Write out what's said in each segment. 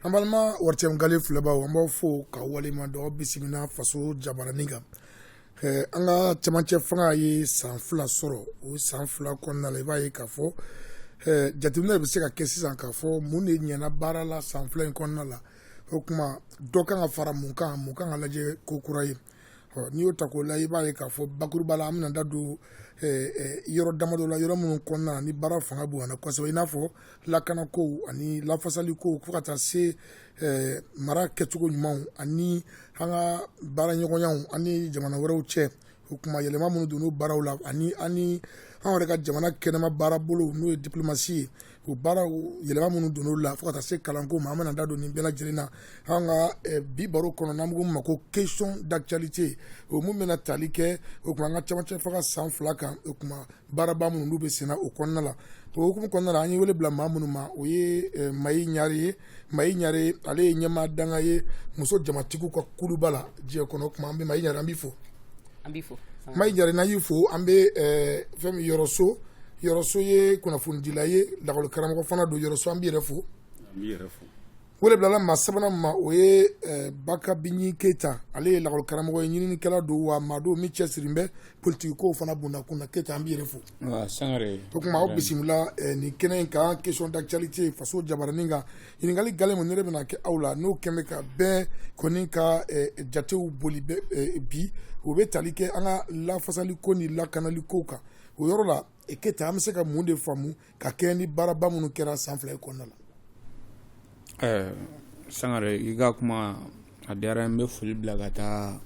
An balima ORTM gale filɛbaw an b'aw fo k'aw waleɲumandɔn bisimila faso jabaranin kan an ka camancɛ fanga ye san fila sɔrɔ o san fila kɔnɔna la i b'a ye k'a fɔ jateminɛ bɛ se ka kɛ sisan k'a fɔ mun de ɲɛna baara la san fila in kɔnɔna la o kuma dɔ kan ka fara mun kan mun kan ka lajɛ kokura ye n'i y'o ta k'o la i b'a ye k'a fɔ bakuruba la an bɛna da don yɔrɔ damadɔ la yɔrɔ minnu kɔnɔna ni baara fanga bonyana kosɛbɛ i n'a fɔ lakana kow ani lafasali kow fo ka taa se mara kɛcogo ɲumanw ani an ka baara ɲɔgɔnyaw ani jamana wɛrɛw cɛ o kuma yɛlɛma minnu donna o baaraw la ani an yɛrɛ ka jamana kɛnɛma baara bolo n'o ye diplomasi ye o baaraw yɛlɛma minnu donna o la fo ka taa se kalanko ma an bɛna da don nin bɛɛ lajɛlen na an ka eh, bi baro kɔnɔ n'an k'o ma ko question d'actualité o min bɛna tali kɛ o kuma an ka camacɛ fanga san fila kan o kuma baaraba minnu n'u bɛ senna o kɔnɔna la o hukumu kɔnɔna la an ye wele bila maa minnu ma o ye eh, mayi ɲare ye mayi ɲare ale ye ɲɛmaa dankan ye muso jamatigiw ka kuluba la diɲɛ kɔnɔ o kuma an bɛ mayi ɲare an b'i fo an b'i fo mayi ɲare n'an y'i fo an bɛ eh, fɛn min yɔrɔso yɔrɔso ye kunnafonidila ye lakɔli karamɔgɔ fana don yɔrɔso an b'i yɛrɛ fo an b'i yɛrɛ fo wele bilala maa sabanan ma o ye eh, baka binyi keyita ale ye lakɔli karamɔgɔ ye ɲininikɛla don wa maa don min cɛsirilen bɛ politiki kow fana bundakun na keyita an b'i yɛrɛ fo Sangare o kuma aw bisimila nin kɛnɛ in kan question d'actualité faso jabaranin kan ɲininkali gale min ne de bɛna kɛ aw la n'o kɛlen ka bɛɛ kɔni ka jatew boli bi o bɛ tali kɛ an ka lafasali ko ni lakanali ko kan o yɔrɔ la keyita an bɛ se ka mun de faamu ka kɛɲɛ ni baaraba minnu kɛra san fila in kɔnɔna la ɛɛ sangare i ka kuma a diyara n bɛ foli bila ka taa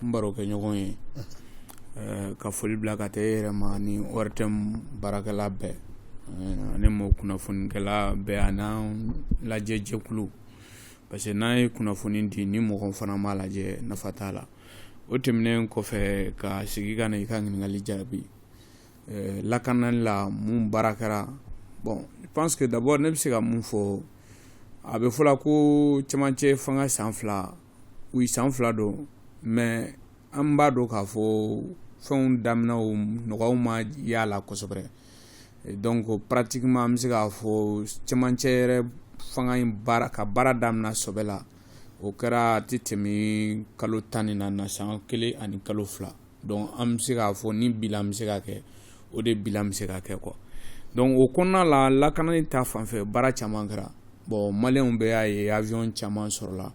n barokɛɲɔgɔn ye ɛɛ ka foli bila ka taa e yɛrɛ ma ni ORTM baarakɛla bɛɛ ɛɛ ani mɔɔ kunnafonikɛla bɛɛ an'an lajɛ jɛkulu parce que n'an ye kunnafoni di ni mɔgɔ fana m'a lajɛ nafa t'a la o tɛmɛnen kɔfɛ ka segin ka na i ka ɲininkali jaabi lakanali la mun baara kɛra bon je pense que d'abord ne bɛ se ka mun fɔ a bɛ fɔla ko cɛmancɛ fanga san fila oui san fila don mais an b'a dɔn k'a fɔ fɛnw daminɛ o nɔ ma y'a la kosɛbɛ donc pratiquement an bɛ se k'a fɔ cɛmancɛ yɛrɛ fanga in ka baara daminɛ sɔbɛ la o kɛra a tɛ tɛmɛ kalo tan ni naani na san kelen ani kalo fila donc an bɛ se k'a fɔ ni bilan bɛ se ka kɛ o de bilan bɛ se ka kɛ quoi donc o kɔnɔna la lakanani ta fanfɛ baara caman kɛra bon maliyɛnw bɛɛ y'a ye avion caman sɔrɔla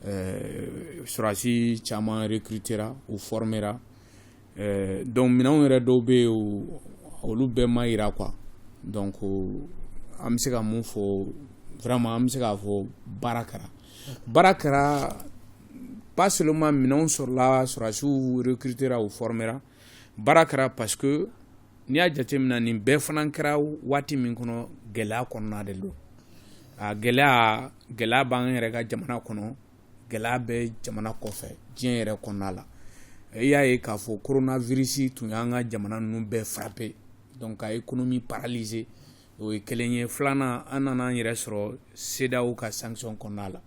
ɛɛ sɔrɔdasi caman recrutera u formera donc minɛnw yɛrɛ dɔw bɛ yen olu bɛɛ ma yira quoi donc an bɛ se ka mun fɔ vraiment an bɛ se k'a fɔ baara kɛra baara kɛra pas seulement minɛnw sɔrɔla sɔrɔdasiw recrutera u formera baara kɛra parce que n'i y'a jateminɛ nin bɛɛ fana kɛra waati min kɔnɔ gɛlɛya kɔnɔna de don a gɛlɛya gɛlɛya b'an yɛrɛ ka jamana kɔnɔ gɛlɛya bɛ jamana kɔfɛ diɲɛ yɛrɛ kɔnɔna la i y'a ye k'a fɔ coronavirus tun y'an ka jamana ninnu bɛɛ frapper donc ka économie paralyser o ye kelen ye filanan an nana an yɛrɛ sɔrɔ CEDEAO ka sanction kɔnɔna la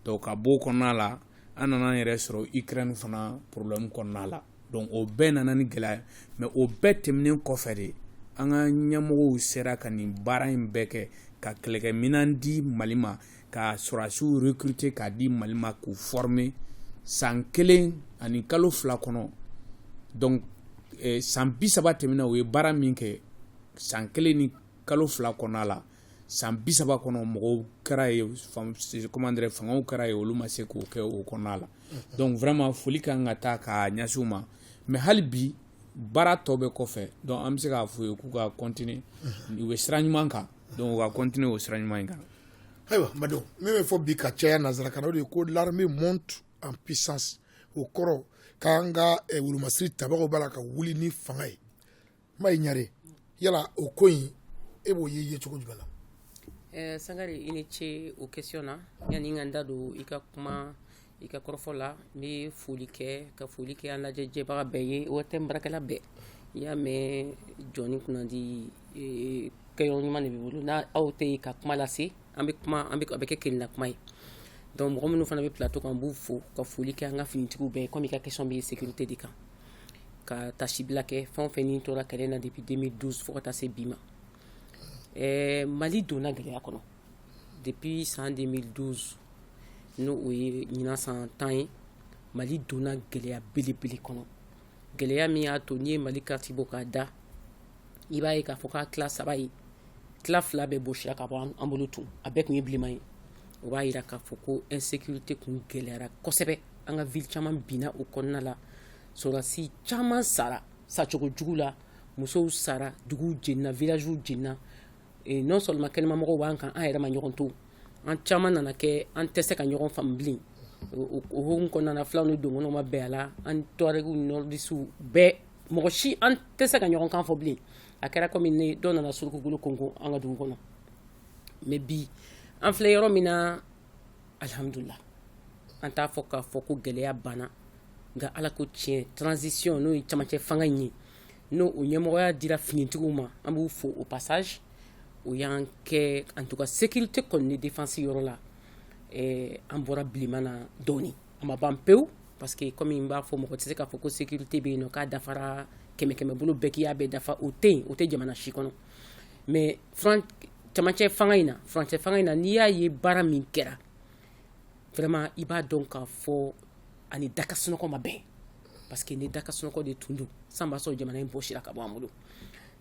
donc ka b'o kɔnɔna la an nana an yɛrɛ sɔrɔ ukraine fana problème kɔnɔna la donc o bɛɛ nana ni gɛlɛya mais o bɛɛ tɛmɛnen kɔfɛ de an ka ɲɛmɔgɔw sera ka nin baara in bɛɛ kɛ ka kɛlɛkɛminɛn di mali ma ka sɔrɔdasiw recruter k'a di mali ma k'u former san kelen ani kalo fila kɔnɔ donc eh, san bi saba tɛmɛna u ye baara min kɛ san kelen ni kalo fila kɔnɔna la san bi saba kɔnɔ mɔgɔw kɛra yen comment dire fangaw kɛra yen olu ma se k'o kɛ o kɔnɔna la donc vraiment foli kan ka taa ka ɲɛsin u ma mais hali bi baara tɔ bɛ kɔfɛ donc an bɛ se k'a fɔ u ye k'u ka continuer u bɛ sira ɲuman kan donc u ka continuer o sira ɲuman in kan ayiwa mado min bɛ fɔ bi ka caya nanzarakan na o de ye ko l'armée monte en puissance o kɔrɔ k'an ka wolomasiri tabagaw b'a la ka wuli ni fanga ye mayi ɲare yala o ko in e b'o ye ye cogo jumɛn na eh, sangare i ni ce o question na yani n ka n da don i ka kuma i ka kɔrɔfɔ la n bɛ foli kɛ ka foli kɛ an lajɛ jɛbaga bɛɛ ye ORTM baarakɛla bɛɛ i y'a mɛn jɔni kunnandi eh, kɛyɔrɔ ɲuman de b'i bolo n'aw tɛ yen ka kuma lase an bɛ kuma a bɛ kɛ kelenna kuma ye donc mɔgɔ minnu fana bɛ plateau kan n b'u fo ka foli kɛ an ka finitigiw bɛɛ comme i ka question bɛ sécurité de kan ka tasibila kɛ fɛn o fɛn ni tora kɛlɛ na depuis deux mille douze fo ka taa se bi ma ɛɛ mali donna gɛlɛya kɔnɔ depuis san deux mille douze n'o o ye ɲinan san tan ye mali donna gɛlɛya belebele kɔnɔ gɛlɛya min y'a to n'i ye mali carte bɔ k'a da i b'a ye k'a fɔ k'a tila saba ye tila fila bɛɛ bɔsira ka bɔ an bolo tun a bɛɛ kun ye bilenman ye o b'a yira k'a fɔ ko insécurité kun gɛlɛyara kosɛbɛ an ka ville caman binna o kɔnɔna la sɔrɔdasi caman sara sacogo jugu la musow sara duguw jenina villagew jenina non seulement kɛnɛmamɔgɔw b'an kan an yɛrɛ ma ɲɔgɔn to an caman nana kɛ an tɛ se ka ɲɔgɔn faamu bilen o hukumu kɔnɔna fulaw ni dɔgɔnɔw ma bɛn a la an tuwarɛgiw nɔrɔdisiw bɛɛ mɔgɔ si an tɛ se ka ɲɔgɔn kan fɔ bilen a kɛra kɔmi dɔw nana surukukolo konko an ka dugu kɔnɔ mais bi an filɛ yɔrɔ min na alihamdulila an t'a fɔ k'a fɔ ko gɛlɛya banna nka ala ko tiɲɛ transition n'o ye camancɛ fanga in ye n'o o ɲɛmɔgɔya dira finitigiw ma an b'u fo au passage o y'an kɛ en tout cas sécurité kɔni ni défense yɔrɔ la an bɔra bilenman na dɔɔnin a ma ban pewu parce que kɔmi n b'a fɔ mɔgɔ tɛ se k'a fɔ ko sécurité bɛ yen k'a dafara kɛmɛ kɛmɛ bolo bɛɛ k'i y'a bɛɛ dafa o tɛ yen o tɛ jamana si kɔnɔ mais camancɛ fanga in na furancɛ fanga in na n'i y'a ye baara min kɛra vraiment i b'a dɔn k'a fɔ a ni da ka sunɔgɔ ma bɛn parce que ni da ka sunɔgɔ de tun don san b'a sɔrɔ jamana in bɔsira ka bɔ an bolo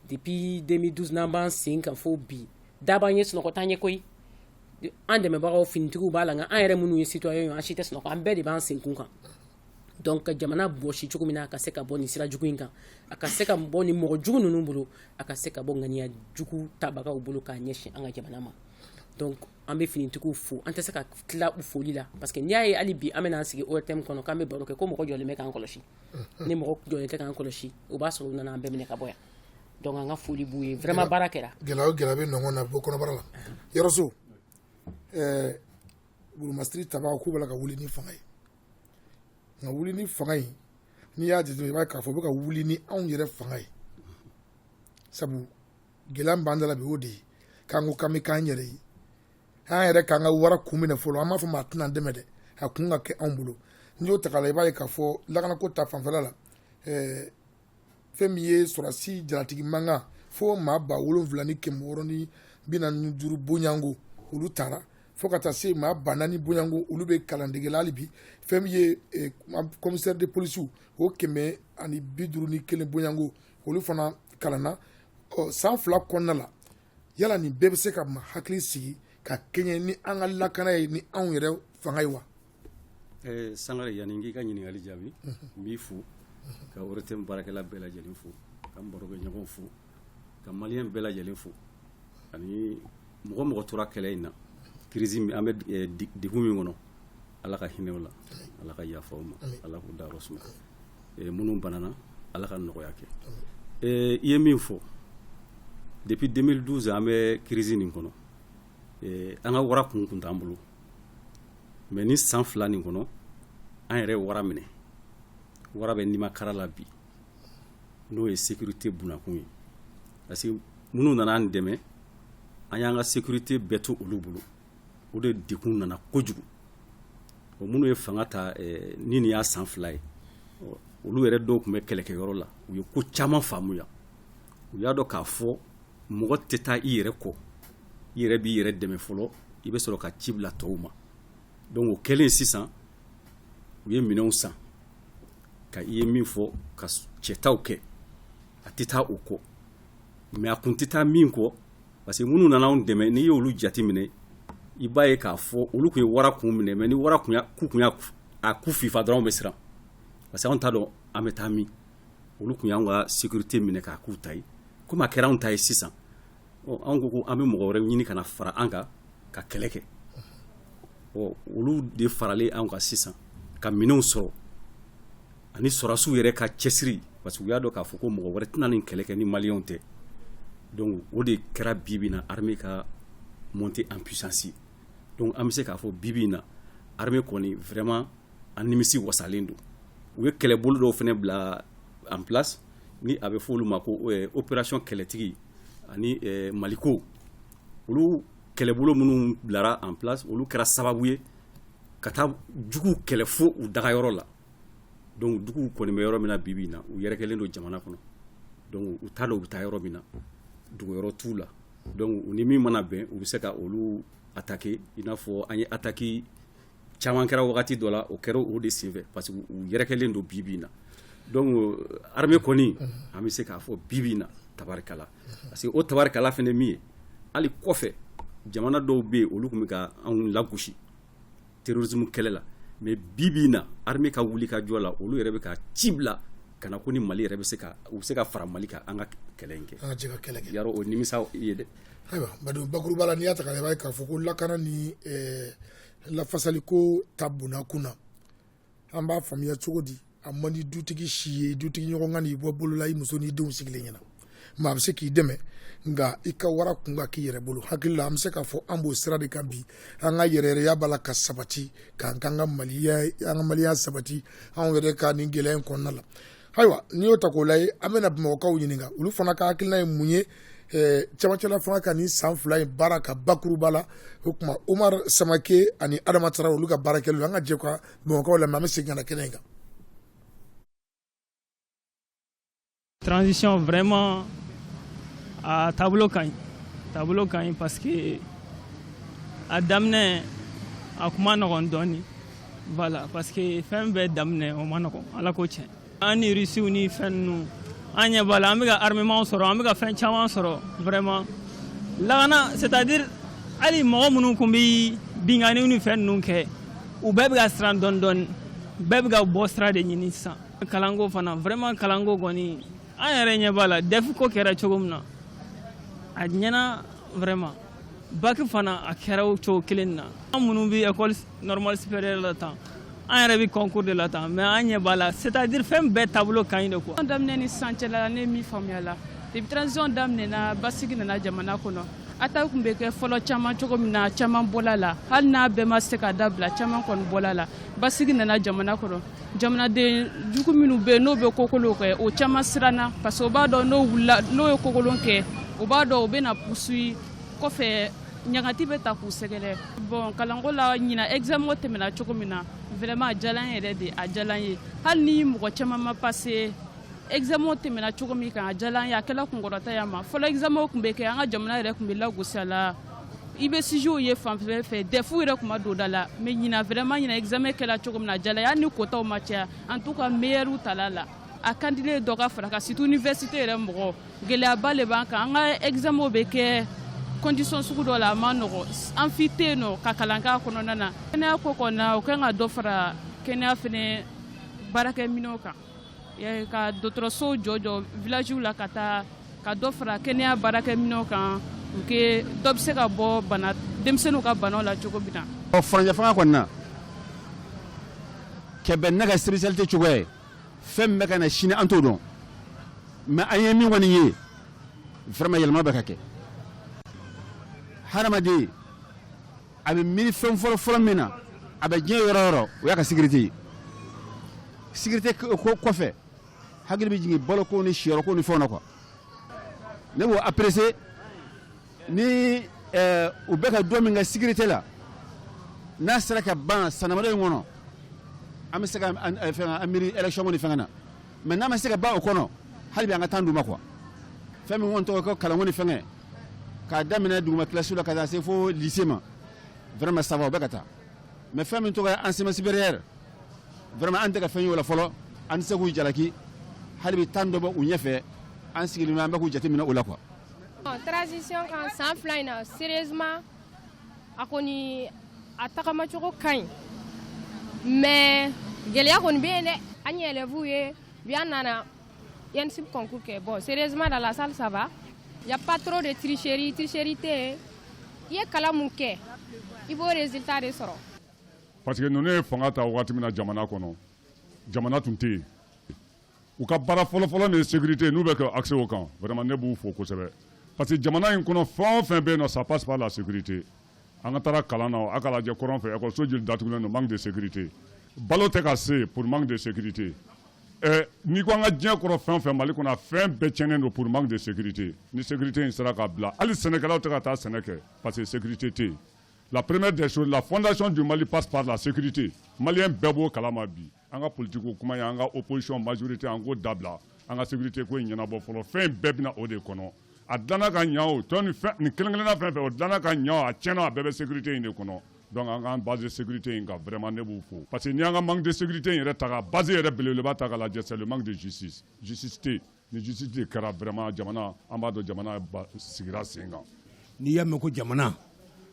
Depuis 2012 n'an b'an sen kan fo bi da b'an ye sunɔgɔ t'an ye koyi an dɛmɛbagaw finitigiw b'a la nka an yɛrɛ minnu ye citoyen ye an si tɛ sunɔgɔ an bɛɛ de b'an senkun kan donc ka jamana bɔsi cogo min na a ka se ka bɔ nin sira jugu in kan a ka se ka bɔ nin mɔgɔ jugu ninnu bolo a ka se ka bɔ ŋaniya jugu tabagaw bolo k'a ɲɛsin an ka jamana ma donc an bɛ finitigiw fo an tɛ se ka tila u foli la parce que n'i y'a ye hali bi an bɛna an sigi ORTM kɔnɔ k'an bɛ baro kɛ ko mɔgɔ jɔlen bɛ k'an kɔlɔsi ni mɔgɔ jɔlen tɛ k'an kɔlɔsi o b'a sɔrɔ u nana an bɛɛ minɛ ka bɔ yan donc an ka foli b'u ye vraiment baara kɛra gɛlɛya o gɛlɛya bɛ nɔgɔn na bɔ kɔnɔbara la yɔrɔso ɛɛ gurumasiri tabaa k'u b'a la ka wuli ni fanga ye nka wuli ni fanga ye n'i y'a jateminɛ i b'a ye k'a fɔ u bɛ ka wuli ni anw yɛrɛ fanga ye sabu gɛlɛya min b'an da la bi o de ye k'an ko k'an bɛ k'an yɛrɛ ye an yɛrɛ k'an ka wara kun minɛ fɔlɔ an m'a fɔ maa tɛn'an dɛmɛ dɛ a kun ka kɛ anw bolo n'i y'o ta k'a la i b'a ye k'a fɔ lakanako ta fanfɛla la ɛɛ fɛn min ye sɔrɔdasi jalatigi mankan fo maa ba wolonwula ni kɛmɛ wɔɔrɔ ni bi naani ni duuru bonyanko olu taara fo ka taa se maa ba naani bonyanko olu bɛ kalandege la hali bi fɛn min ye eh, commissaire de police o kɛmɛ ani bi duuru ni kelen bonyanko olu fana kalanna ɔ san fila kɔnɔna la yala nin bɛɛ bɛ se ka maa hakili sigi ka kɛɲɛ ni an ka lakana ye ni anw yɛrɛ fanga ye wa eh, sangare yanni n k'i ka ɲininkali jaabi n b'i fo ka ORTM baarakɛla bɛɛ lajɛlen fo ka n barokɛɲɔgɔnw fo ka maliyɛn bɛɛ lajɛlen fo ani mɔgɔ o mɔgɔ tora kɛlɛ in na crise an bɛ eh, degun min kɔnɔ ala ka hinɛ u la ala ka yafa u ma ala k'u dayɔrɔ suma eh, minnu banana ala ka nɔgɔya kɛ eh, i ye min fɔ depuis 2012 an bɛ crise nin kɔnɔ eh, an ka wara kun kun t'an bolo mais nin san fila nin kɔnɔ an yɛrɛ wara minɛ wara bɛ nimakara la bi n'o ye sécurité bunakun ye parce que minnu nana an dɛmɛ an y'an ka sécurité bɛɛ to olu bolo o de degun nana kojugu o minnu ye fanga ta ni nin y'a san fila ye olu yɛrɛ dɔw tun bɛ kɛlɛkɛyɔrɔ la u ye ko caman faamuya u y'a dɔn k'a fɔ mɔgɔ tɛ taa i yɛrɛ kɔ i yɛrɛ b'i yɛrɛ dɛmɛ fɔlɔ i bɛ sɔrɔ ka ci bila tɔw ma donc o kɛlen sisan u ye minɛnw san ka i ye min fɔ ka cɛtaw kɛ a tɛ taa o kɔ mais a kun tɛ taa min kɔ parce que minnu nana anw dɛmɛ n'i y'olu jate minɛ i b'a ye k'a fɔ olu tun ye wara kun minɛ mais ni wara kun ku tun y'a ku fifa dɔrɔn an bɛ siran parce que anw t'a dɔn an bɛ taa min olu tun y'an ka sécurité minɛ k'a k'u ta ye komi a kɛra anw ta ye sisan ɔ anw ko ko an bɛ mɔgɔ wɛrɛ ɲini ka na fara an kan ka kɛlɛ kɛ ɔ olu de faralen anw kan sisan ka minɛnw sɔrɔ ani sɔrɔdasiw yɛrɛ ka cɛsiri parce que u y'a dɔn k'a fɔ ko mɔgɔ wɛrɛ tɛna nin kɛlɛ kɛ ni maliyɛnw tɛ donc o de kɛra bi bi in na armée ka monter en puissance donc an bɛ se k'a fɔ bi bi in na armée kɔni vraiment an nimisiwasalen don u ye kɛlɛbolo dɔw fana bila en place ni a bɛ fɔ olu ma ko euh, opération kɛlɛtigi ani euh, maliko olu kɛlɛbolo minnu bilara en place olu kɛra sababu ye ka taa juguw kɛlɛ fo u dagayɔrɔ la donc juguw kɔni bɛ yɔrɔ min na bibi na u yɛrɛkɛlen don jamana kɔnɔ donc u t'a dɔn u bɛ taa yɔrɔ min na dogoyɔrɔ t'u la donc u ni min mana bɛn u bɛ se ka olu attaquer i n'a fɔ an ye attaque caman kɛra wagati dɔ la o kɛra o de senfɛ parce que u yɛrɛkɛlen don bibi na donc armée kɔni an bɛ se k'a fɔ bibi na tabarikala parce que o tabarikala fana min ye hali kɔfɛ jamana dɔw bɛ yen olu tun bɛ ka anw lagosi terrorisme kɛlɛ la mais bi bi in na armée ka wuli ka jɔ la olu yɛrɛ bɛ ka ci bila ka na ko ni Mali yɛrɛ bɛ se ka u bɛ se ka fara Mali kan an ka kɛlɛ in kɛ an ka jɛ ka kɛlɛ kɛ Yaro o nimisa ye dɛ ayiwa Badu bakuruba la n'i y'a ta k'a lajɛ i b'a ye k'a fɔ ko lakana ni ɛɛ lafasaliko ta bonna kun na an b'a faamuya cogo di a man di dutigi si ye i dutigi ɲɔgɔn ka na i bɔ bolo la i muso n'i denw sigilen ɲɛ na maa bɛ se k'i dɛmɛ nka i ka wara kun ka k'i yɛrɛ bolo hakili la an bɛ se k'a fɔ an b'o sira de kan bi an ka yɛrɛyɛrɛya b'a la ka sabati k'an k'an ka maliya an ka maliya sabati anw yɛrɛ ka nin gɛlɛya in kɔnɔna la ayiwa n'i y'o ta k'o lajɛ an bɛna bamakɔkaw ɲininka olu fana ka hakilina ye mun ye camancɛla fanga ka nin san fila in baara ka bakuruba la o tuma omar samake ani adama tara olu ka baara kɛlen don an ka jɛ ka bamakɔkaw lamɛn an bɛ segin ka na kɛnɛ in kan transition vraiment a taabolo ka ɲi taabolo ka ɲi parce que a daminɛ a tun man nɔgɔn dɔɔnin Voilà, parce que fɛn bɛɛ daminɛ o ma nɔgɔn ala ko tiɲɛ an ni rusiw ni fɛn ninnu an ɲɛ b'a la an bɛ ka armement sɔrɔ an bɛ ka fɛn caman sɔrɔ vraiment lakana c'est à dire hali mɔgɔ minnu tun bɛ binkanniw ni fɛn ninnu kɛ u bɛɛ bɛ ka siran dɔɔni dɔɔni bɛɛ bɛ ka bɔ sira de ɲini sisan kalanko fana vraiment kalanko kɔni an yɛrɛ ɲɛ b'a la DEF ko kɛra cogo min na a ɲɛna vraiment bac fana a kɛra o cogo kelen na an minnu bɛ école normale supérieure la tan an yɛrɛ bɛ concours de la tan mais an ɲɛ b'a la c'est à dire fɛn bɛɛ taabolo ka ɲi de quoi. daminɛ ni sisan cɛ la ne ye min faamuya la depuis transition daminɛna basigi nana jamana kɔnɔ attaque tun bɛ kɛ fɔlɔ caman cogo min na caman bɔla la hali n'a bɛɛ ma se ka dabila caman kɔni bɔla la basigi nana jamana kɔnɔ jamanaden jugu minnu bɛ n'o bɛ kokolon kɛ o caman siranna parce que o b'a dɔn n'o wulila n'o ye kokolon kɛ o b'a dɔn o bɛna poursuit kɔfɛ ɲangata bɛ ta k'u sɛgɛrɛ bon kalanko la ɲinan examen tɛmɛna cogo min na vraiment a diyala n yɛrɛ de a diyala n ye hali ni mɔgɔ caman ma passé examen tɛmɛna cogo min kan a diyala n ye a kɛla kunkɔrɔta ye an ma fɔlɔ examen tun bɛ kɛ an ka jamana yɛrɛ tun bɛ lagosi a la i bɛ sujetw ye fan bɛɛ fɛ DEF yɛrɛ kun ma don da la mais ɲinan vraiment ɲinan examen kɛla cogo min na a diyala n ye hali ni kotaw ma caya en tout cas meilleurw tala la a kandile dɔ ka fara kan surtout université yɛrɛ mɔgɔ gɛlɛyaba le b'an kan an ka examenw bɛ kɛ condition sugu dɔ la a ma nɔgɔ amphi tɛ yen n'o ka kalan k'a kɔnɔna na kɛnɛya ko kɔnɔna o kan ka dɔ fara kɛnɛya fɛnɛ baarakɛminɛw kan Ka dɔgɔtɔrɔsow jɔ jɔ villagew la ka taa ka dɔ fara kɛnɛya baarakɛminɛnw kan pour que dɔ bɛ se ka bɔ denmisɛnninw ka banaw la cogo min na furancɛ fanga kɔnɔna na cɛ bɛ ne ka sécurité cogo ye fɛn min bɛ ka na sini an t'o dɔn mais an ye min kɔni ye vraiment yɛlɛma bɛ ka kɛ hadamaden a bɛ miiri fɛn fɔlɔ fɔlɔ min na a bɛ diɲɛ yɔrɔ yɔrɔ o y'a ka sécurité ye sécurité kɔfɛ hakili bɛ jigin baloko ni siyɔrɔko ni fɛnw na quoi ne b'o apprécier ni eh, u bɛ ka dɔ min kɛ sécurité la n'a sera ka ban san damadɔ in kɔnɔ an bɛ se ka eh, fɛn an miiri électionko ni fɛngɛ na mais n'a ma se ka ban o kɔnɔ hali bi an ka temps d'u ma quoi fɛn min kɔni tɔgɔ ko kalanko ni fɛngɛ k'a daminɛ duguma kilasi la ka taa se fo lycée ma vraiment ça va o bɛ ka taa mais fɛn min tɔgɔ ye enseignement supérieur vraiment an tɛ ka fɛn y'o la fɔlɔ an tɛ se k'u jalaki hali bi temps dɔ bɛ u ɲɛfɛ an sigilen an bɛ k'u jateminɛ o la quoi transition ka san fila in na sérieusement a kɔni a tagamacogo ka ɲi mais gɛlɛya kɔni bɛ yen dɛ an ye élèves ye bi an nana An nana ENSUP concours kɛ, bon. Sérieusement, dans la salle, ça va. Il n'y a pas trop de tricherie. Tricherie tɛ, i ye kalan mun kɛ, i b'o résultat de sɔrɔ. Parce que ninnu ye fanga ta waati min na jamana kɔnɔ jamana tun tɛ yen u ka baara fɔlɔfɔlɔ de ye sécurité n'u bɛ k'a axer o kan vraiment ne b'u fo kosɛbɛ parce que jamana in kɔnɔ fɛn o fɛn bɛ yen nɔ ça passe par la sécurité an ka taara kalan na a ka lajɛ kɔrɔn fɛ ekɔliso joli datugulen don manque de sécurité balo tɛ ka se pour manque de sécurité ɛ n'i ko an ka diɲɛ kɔrɔ fɛn o fɛn mali kɔnɔ a fɛn bɛɛ tiɲɛnen don pour manque de sécurité ni sécurité in sera ka bila hali sɛnɛkɛlaw tɛ ka taa sɛnɛ kɛ parce que sécurité tɛ yen la première des choses la fondation du mali passe par la sécurité maliyɛn bɛɛ b'o kalama bi An ka politique ko kuma ye an ka opposition majorité an k'o dabila an ka sécurité ko in ɲɛnabɔ fɔlɔ fɛn in bɛɛ bɛna o de kɔnɔ a dilanna ka ɲa o tɔ nin kelen kelenna fɛn fɛn o dilanna ka ɲa o a tiɲɛna a bɛɛ bɛ sécurité in de kɔnɔ donc an k'an base sécurité in kan vraiment ne b'u fo parce que n'i y'an ka manque de sécurité in yɛrɛ ta k'a base yɛrɛ belebeleba ta k'a lajɛ c'est le manque de justice justice tɛ yen Ni justice de kɛra vraiment jamana an b'a dɔn jamana basigira sen kan. N'i y'a mɛn ko jamana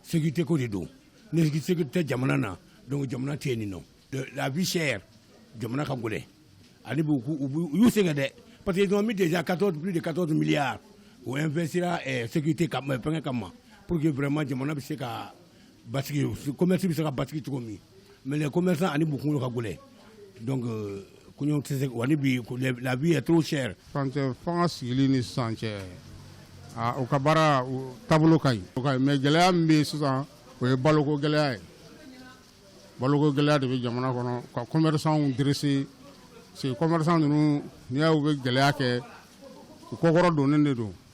sécurité ko de don ni sécurité tɛ jamana na donc jamana tɛ yen nɔ la vie chère jamana ka gɛlɛn ani b'u u y'u sɛgɛn dɛ parce que ils ont mis déjà 14 plus de 14 milliards o investira eh, sécurité kama eh, fɛngɛ kama pour que vraiment jamana bɛ se ka ba kɔmimɛti bɛ se ka ba cogo min mɛ ko ani b ka gɛlɛ ko tɛ se labi t cɛ fanga sigilen ni san cɛ u ka baara taabolo ka ɲi mɛ gɛlɛya min bɛ sisan o ye baloko gɛlɛya ye baloko gɛlɛya de bɛ jamana kɔnɔ ka kɔmɛriw di se kɔmɛri ninnu n'i y' bɛ gɛlɛya kɛ u kɔkɔrɔ don de don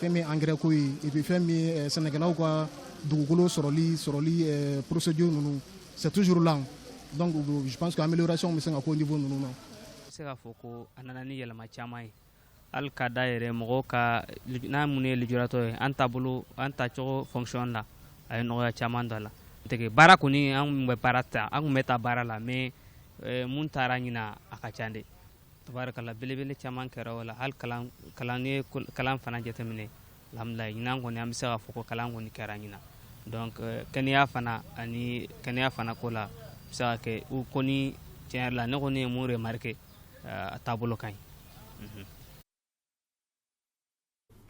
fɛn min angɛrɛ ko ye et puis fɛn min eh, sɛnɛkɛlaw ka dugukolo sɔrɔli sɔrɔli eh, procédure ninnu c'est toujours là donc je pense que amélioration bɛ se ka k'o niveau ninnu na se k'a fɔ ko a nana ni yɛlɛma caman ye hali ka da yɛrɛ mɔgɔw kan an mun ye lujuratɔ ye an taabolo an tacogo fonction na a ye nɔgɔya caman don a la tɛgɛ baara kɔni an tun bɛ baara ta an tun bɛ ta baara la mais eh, mun tara ɲinan a ka ca dɛ Tabarakala belebele caman kɛra o la hali kalan kalan n'i ye kalan fana jateminɛ alhamdulilahi ɲinan kɔni an bɛ se k'a fɔ ko kalan kɔni kɛra ɲinan donc kɛnɛya fana ani kɛnɛya fana ko la a bɛ se ka kɛ u kɔni tiɲɛ yɛrɛ la ne kɔni ye mun remarquer aa a taabolo ka ɲi unhun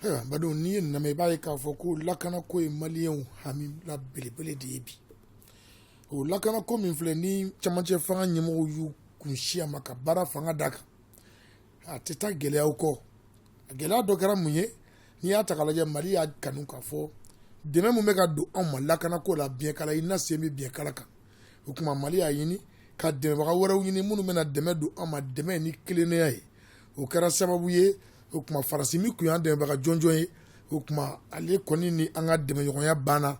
Ayiwa Badon n'i y'a namɛn i b'a ye k'a fɔ ko lakana ko ye maliyɛnw hamila belebele de ye bi o lakana ko min filɛ ni camancɛ fanga ɲɛmɔgɔw y'u kunsin a ma ka baara fanga d'a kan a tɛ taa gɛlɛyaw kɔ a gɛlɛya dɔ kɛra mun ye n'i y'a ta k'a lajɛ mali y'a kanu k'a fɔ dɛmɛ min bɛ ka don anw ma lakana ko la biɲɛkala i na sen bɛ biɲɛkala kan o tuma mali y'a ɲini ka dɛmɛbaga wɛrɛw ɲini minnu bɛna dɛmɛ don an ma dɛmɛ ni tilennenya ye o kɛra sababu ye o tuma faransi min tun y'an dɛmɛbaga jɔnjɔn ye o tuma ale kɔni ni an ka dɛmɛɲɔgɔnya banna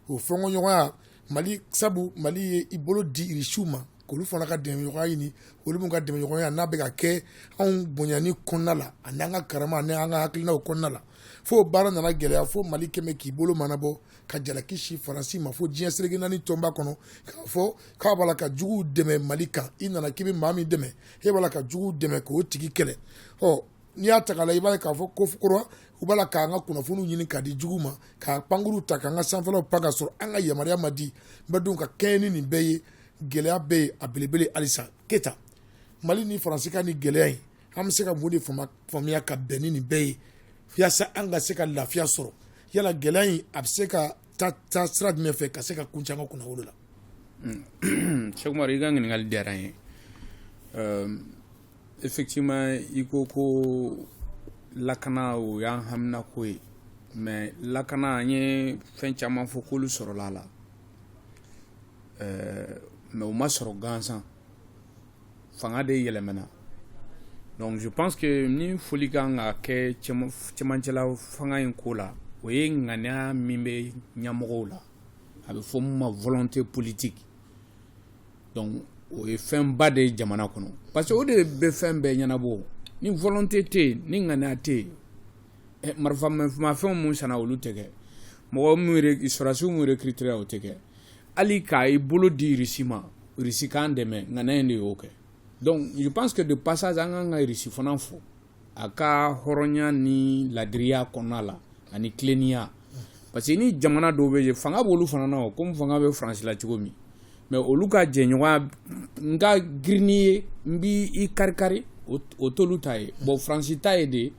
o fɛnkɔɲɔgɔnya mali sabu mali ye i bolo di irisiw ma k'olu fana ka dɛmɛɲɔgɔnya ɲini olu min ka dɛmɛɲɔgɔnya n'a bɛ ka kɛ anw bonyani kɔnɔna la ani an ka karama ani an ka hakilinaw kɔnɔna la fo baara nana gɛlɛya fo mali quand même k'i bolo mɔɔnɔbɔ ka jalaki sin faransi ma fo diɲɛ seleke naani tɔnba kɔnɔ k'a fɔ k'a b'a la ka juguw dɛmɛ mali kan i nana k'i bɛ maa min dɛmɛ e b'a la ka juguw dɛmɛ k'o tigi kɛlɛ ɔ n'i y'a ta k'a la i b'a ye k'a fɔ ko faut croire u b'a la k'an ka kunnafoniw ɲini k'a di jugu ma k'a pankuru ta k'an ka sanfɛlaw pan ka sɔrɔ an ka yamaruya ma di n bɛ dun ka kɛɲɛ ni nin bɛɛ ye gɛlɛya bɛ yen a belebele halisa keita mali ni faransi ka nin gɛlɛya in an bɛ se ka mun de faamuya ka bɛn ni nin bɛɛ ye yaasa an ka se ka lafiya sɔrɔ yala gɛlɛya in a bɛ se ka taa sira jumɛn fɛ ka se ka kuncɛ an kunnawolo la hmm. sɛkumari i ka ɲininkali diyara n ye effectivement i ko ko lakana o y'an haminanko ye mais lakana an ye fɛn caman fɔ k'olu sɔrɔla a la mais o ma sɔrɔ gansan fanga de yɛlɛmana donc je pense que ni foli ka kan ka kɛ cɛmancɛla fanga in ko la o ye ŋaniya min bɛ ɲɛmɔgɔw la a bɛ fɔ min ma volonté politique donc o ye fɛnba de ye jamana kɔnɔ parce que o de bɛ fɛn bɛɛ ɲɛnabɔ ni volonté tɛ yen ni ŋaniya tɛ yen eh, marifamafɛnw mun sanna olu tɛ kɛ mɔgɔ mun sɔrɔdasiw mun recrutéra o tɛ kɛ hali ka i bolo di irisi ma irisi k'an dɛmɛ ŋaniya in de y'o kɛ donc je pense que de passage an kan ka irisi fana fo a ka hɔrɔnya ni ladiriya kɔnɔna la ani tilennenya parce que ni jamana dɔw bɛ yen fanga b'olu fana na komi fanga bɛ faransi la cogo min mais olu ka jɛɲɔgɔnya n ka girin n'i ye n b'i karikari o t'olu ta ye bon faransi ta ye de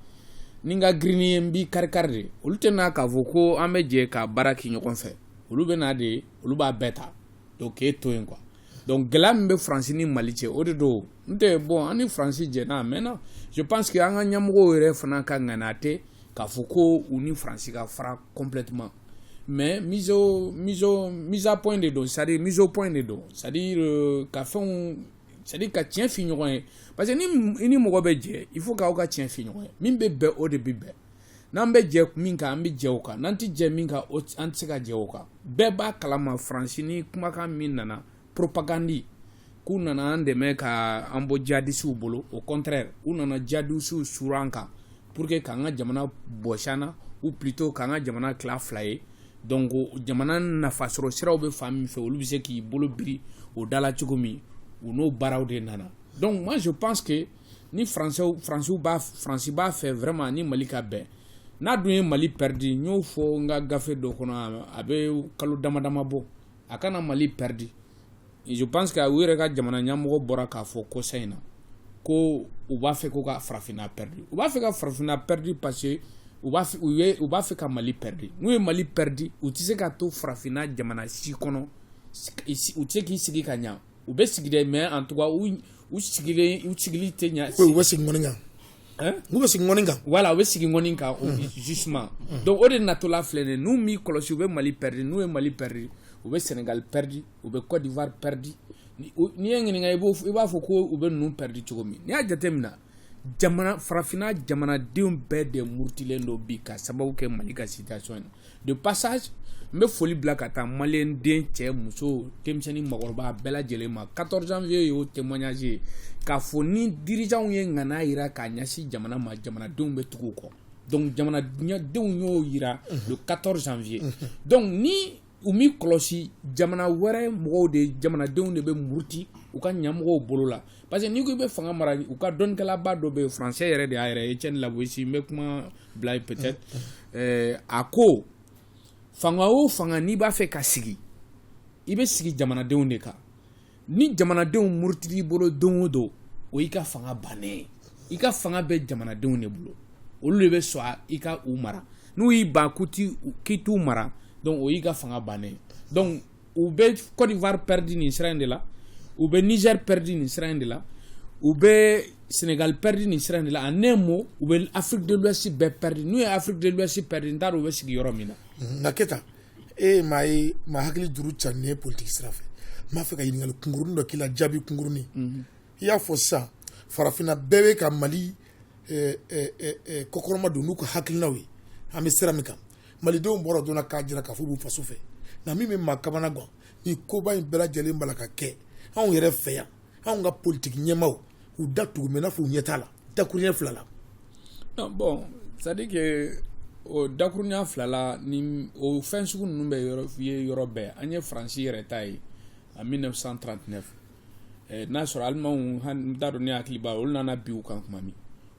ni n ka girin n'i ye n b'i karikari de olu tɛ na k'a fɔ ko an bɛ jɛ ka baara kɛ ɲɔgɔn fɛ olu bɛ na de olu b'a bɛɛ ta donc k'e to yen quoi donc gɛlɛya min bɛ faransi ni mali cɛ o de don n tɛ bon an ni faransi jɛna a mɛnna je pense que an ka ɲɛmɔgɔw yɛrɛ fana ka ŋaniya tɛ k'a fɔ ko u ni faransi ka fara complètement mais mise au mise au mise à point de don c'est à dire mise au point de don c'est à dire euh, ka fɛnw c'est à dire ka tiɲɛ f'i ɲɔgɔn ye parce que ni i ni mɔgɔ bɛ jɛ il faut k'aw ka tiɲɛ f'i ɲɔgɔn ye min bɛ bɛn o de bɛ bɛn n'an bɛ jɛ min kan an bɛ jɛ o kan n'an tɛ jɛ min kan an tɛ se ka jɛ o kan bɛɛ b'a kalama faransi ni kumakan min nana propagandi k'u nana an dɛmɛ ka an bɔ jadisiw bolo au contraire u nana jadisiw suru an kan pour que k'an ka jamana bɔsi an na ou plutôt k'an ka jamana tila fila ye donc jamana nafasɔrɔ siraw bɛ fan min fɛ olu bɛ se k'i bolo biri o da la cogo min u n'o baaraw de nana donc moi je pense que ni faransiw faransiw b'a faransi b'a fɛ vraiment ni mali ka bɛn n'a dun ye mali pɛridi n y'o fɔ n ka gafe dɔ kɔnɔ a bɛ kalo dama dama bɔ a kana mali pɛridi je pense que u yɛrɛ ka jamana ɲɛmɔgɔ bɔra k'a fɔ kɔsa in na ko u b'a fɛ ko ka farafinna pɛridi u b'a fɛ ka farafinna pɛridi parce que u b'a fɛ u ye u b'a fɛ ka mali pɛridi n'u ye mali pɛridi u tɛ se ka to farafinna jamana si kɔnɔ u tɛ se k'i sigi ka ɲa u bɛ sigi dɛ mais en tout cas u u sigili u sigili tɛ ɲa u bɛ sigi ŋɔni kan hein u bɛ sigi ŋɔni kan voilà u bɛ sigi ŋɔni kan justement donc o de natɔla filɛ nin ye n'u m'i kɔlɔsi u bɛ Mali pɛridi n'u ye Mali pɛridi u bɛ Sénégal pɛridi u bɛ Côte d'Ivoire pɛridi ni o n'i ye n ɲininka i b'o f i b'a fɔ ko u bɛ ninnu pɛridi cogo min n'i y'a jateminɛ farafinna jamanadenw bɛɛ de murutilen don bi ka sababu kɛ mali ka situation ye de passage n bɛ foli bila ka taa maliyɛn den cɛ muso denmisɛnnin maakɔrɔba bɛɛ lajɛlen ma 14 janvier y'o témoignage ye k'a fɔ ni dirijanw ye ŋaniya yira k'a ɲɛsin jamana ma jamanadenw bɛ tugu u kɔ donc jamanadenw y'o yira le 14 janvier donc ni u m'i kɔlɔsi jamana wɛrɛ mɔgɔw de jamanadenw de bɛ muruti u ka ɲamɔgɔw bolo la parce que n'i ko i bɛ fanga mara u ka dɔnnikɛlaba dɔ bɛ yen français yɛrɛ de y'a yɛrɛ ye Étienne La Boétie n bɛ kuma bila yen peut-être ɛɛ a ko fanga o fanga n'i b'a fɛ ka sigi i bɛ sigi jamanadenw de kan ni jamanadenw murutila i bolo don o don o y'i ka fanga bannen i ka fanga bɛ jamanadenw de bolo olu de bɛ sɔn i ka u mara n'u y'i ban k'i t'u mara donc o y'i ka fanga bannen donc u bɛ Côte d'Ivoire pɛridi nin sira in de la u bɛ Niger pɛridi nin sira in de la u bɛ Sénégal pɛridi nin sira in de la en un mot u bɛ Afrique de l'Ouest bɛɛ pɛridi n'u ye Afrique de l'Ouest pɛridi n t'a dɔn u bɛ sigi yɔrɔ min na nka Keyita e ye maa ye maa hakili juru carinnen ye politiki sira fɛ n b'a fɛ ka ɲininkali kunkurunin dɔ k'i la jaabi kunkurunin mhm. i y'a fɔ sisan farafinna bɛɛ bɛ ka mali eh, eh, eh, kɔkɔrɔmadon n'u ka hakilinaw ye an bɛ sira min kan malidenw bɔra donna k'a jira k'a fɔ u b'u faso fɛ nka min bɛ maa kamanagan nin koba in bɛɛ lajɛlen b'a la ka kɛ anw yɛrɛ fɛ yan anw ka politiki ɲɛmaw u da tugu mɛ n'a fɔ u ɲɛ t'a la dakuruɲɛ fila la non bon c'est à dire que o dakuruɲɛ fila la ni o fɛn sugu ninnu bɛ ye yɔrɔ bɛɛ an ye faransi yɛrɛ ta ye en 1939 eh, n'a sɔrɔ alimanw n t'a dɔn ne hakili b'a olu nana bin u kan kuma min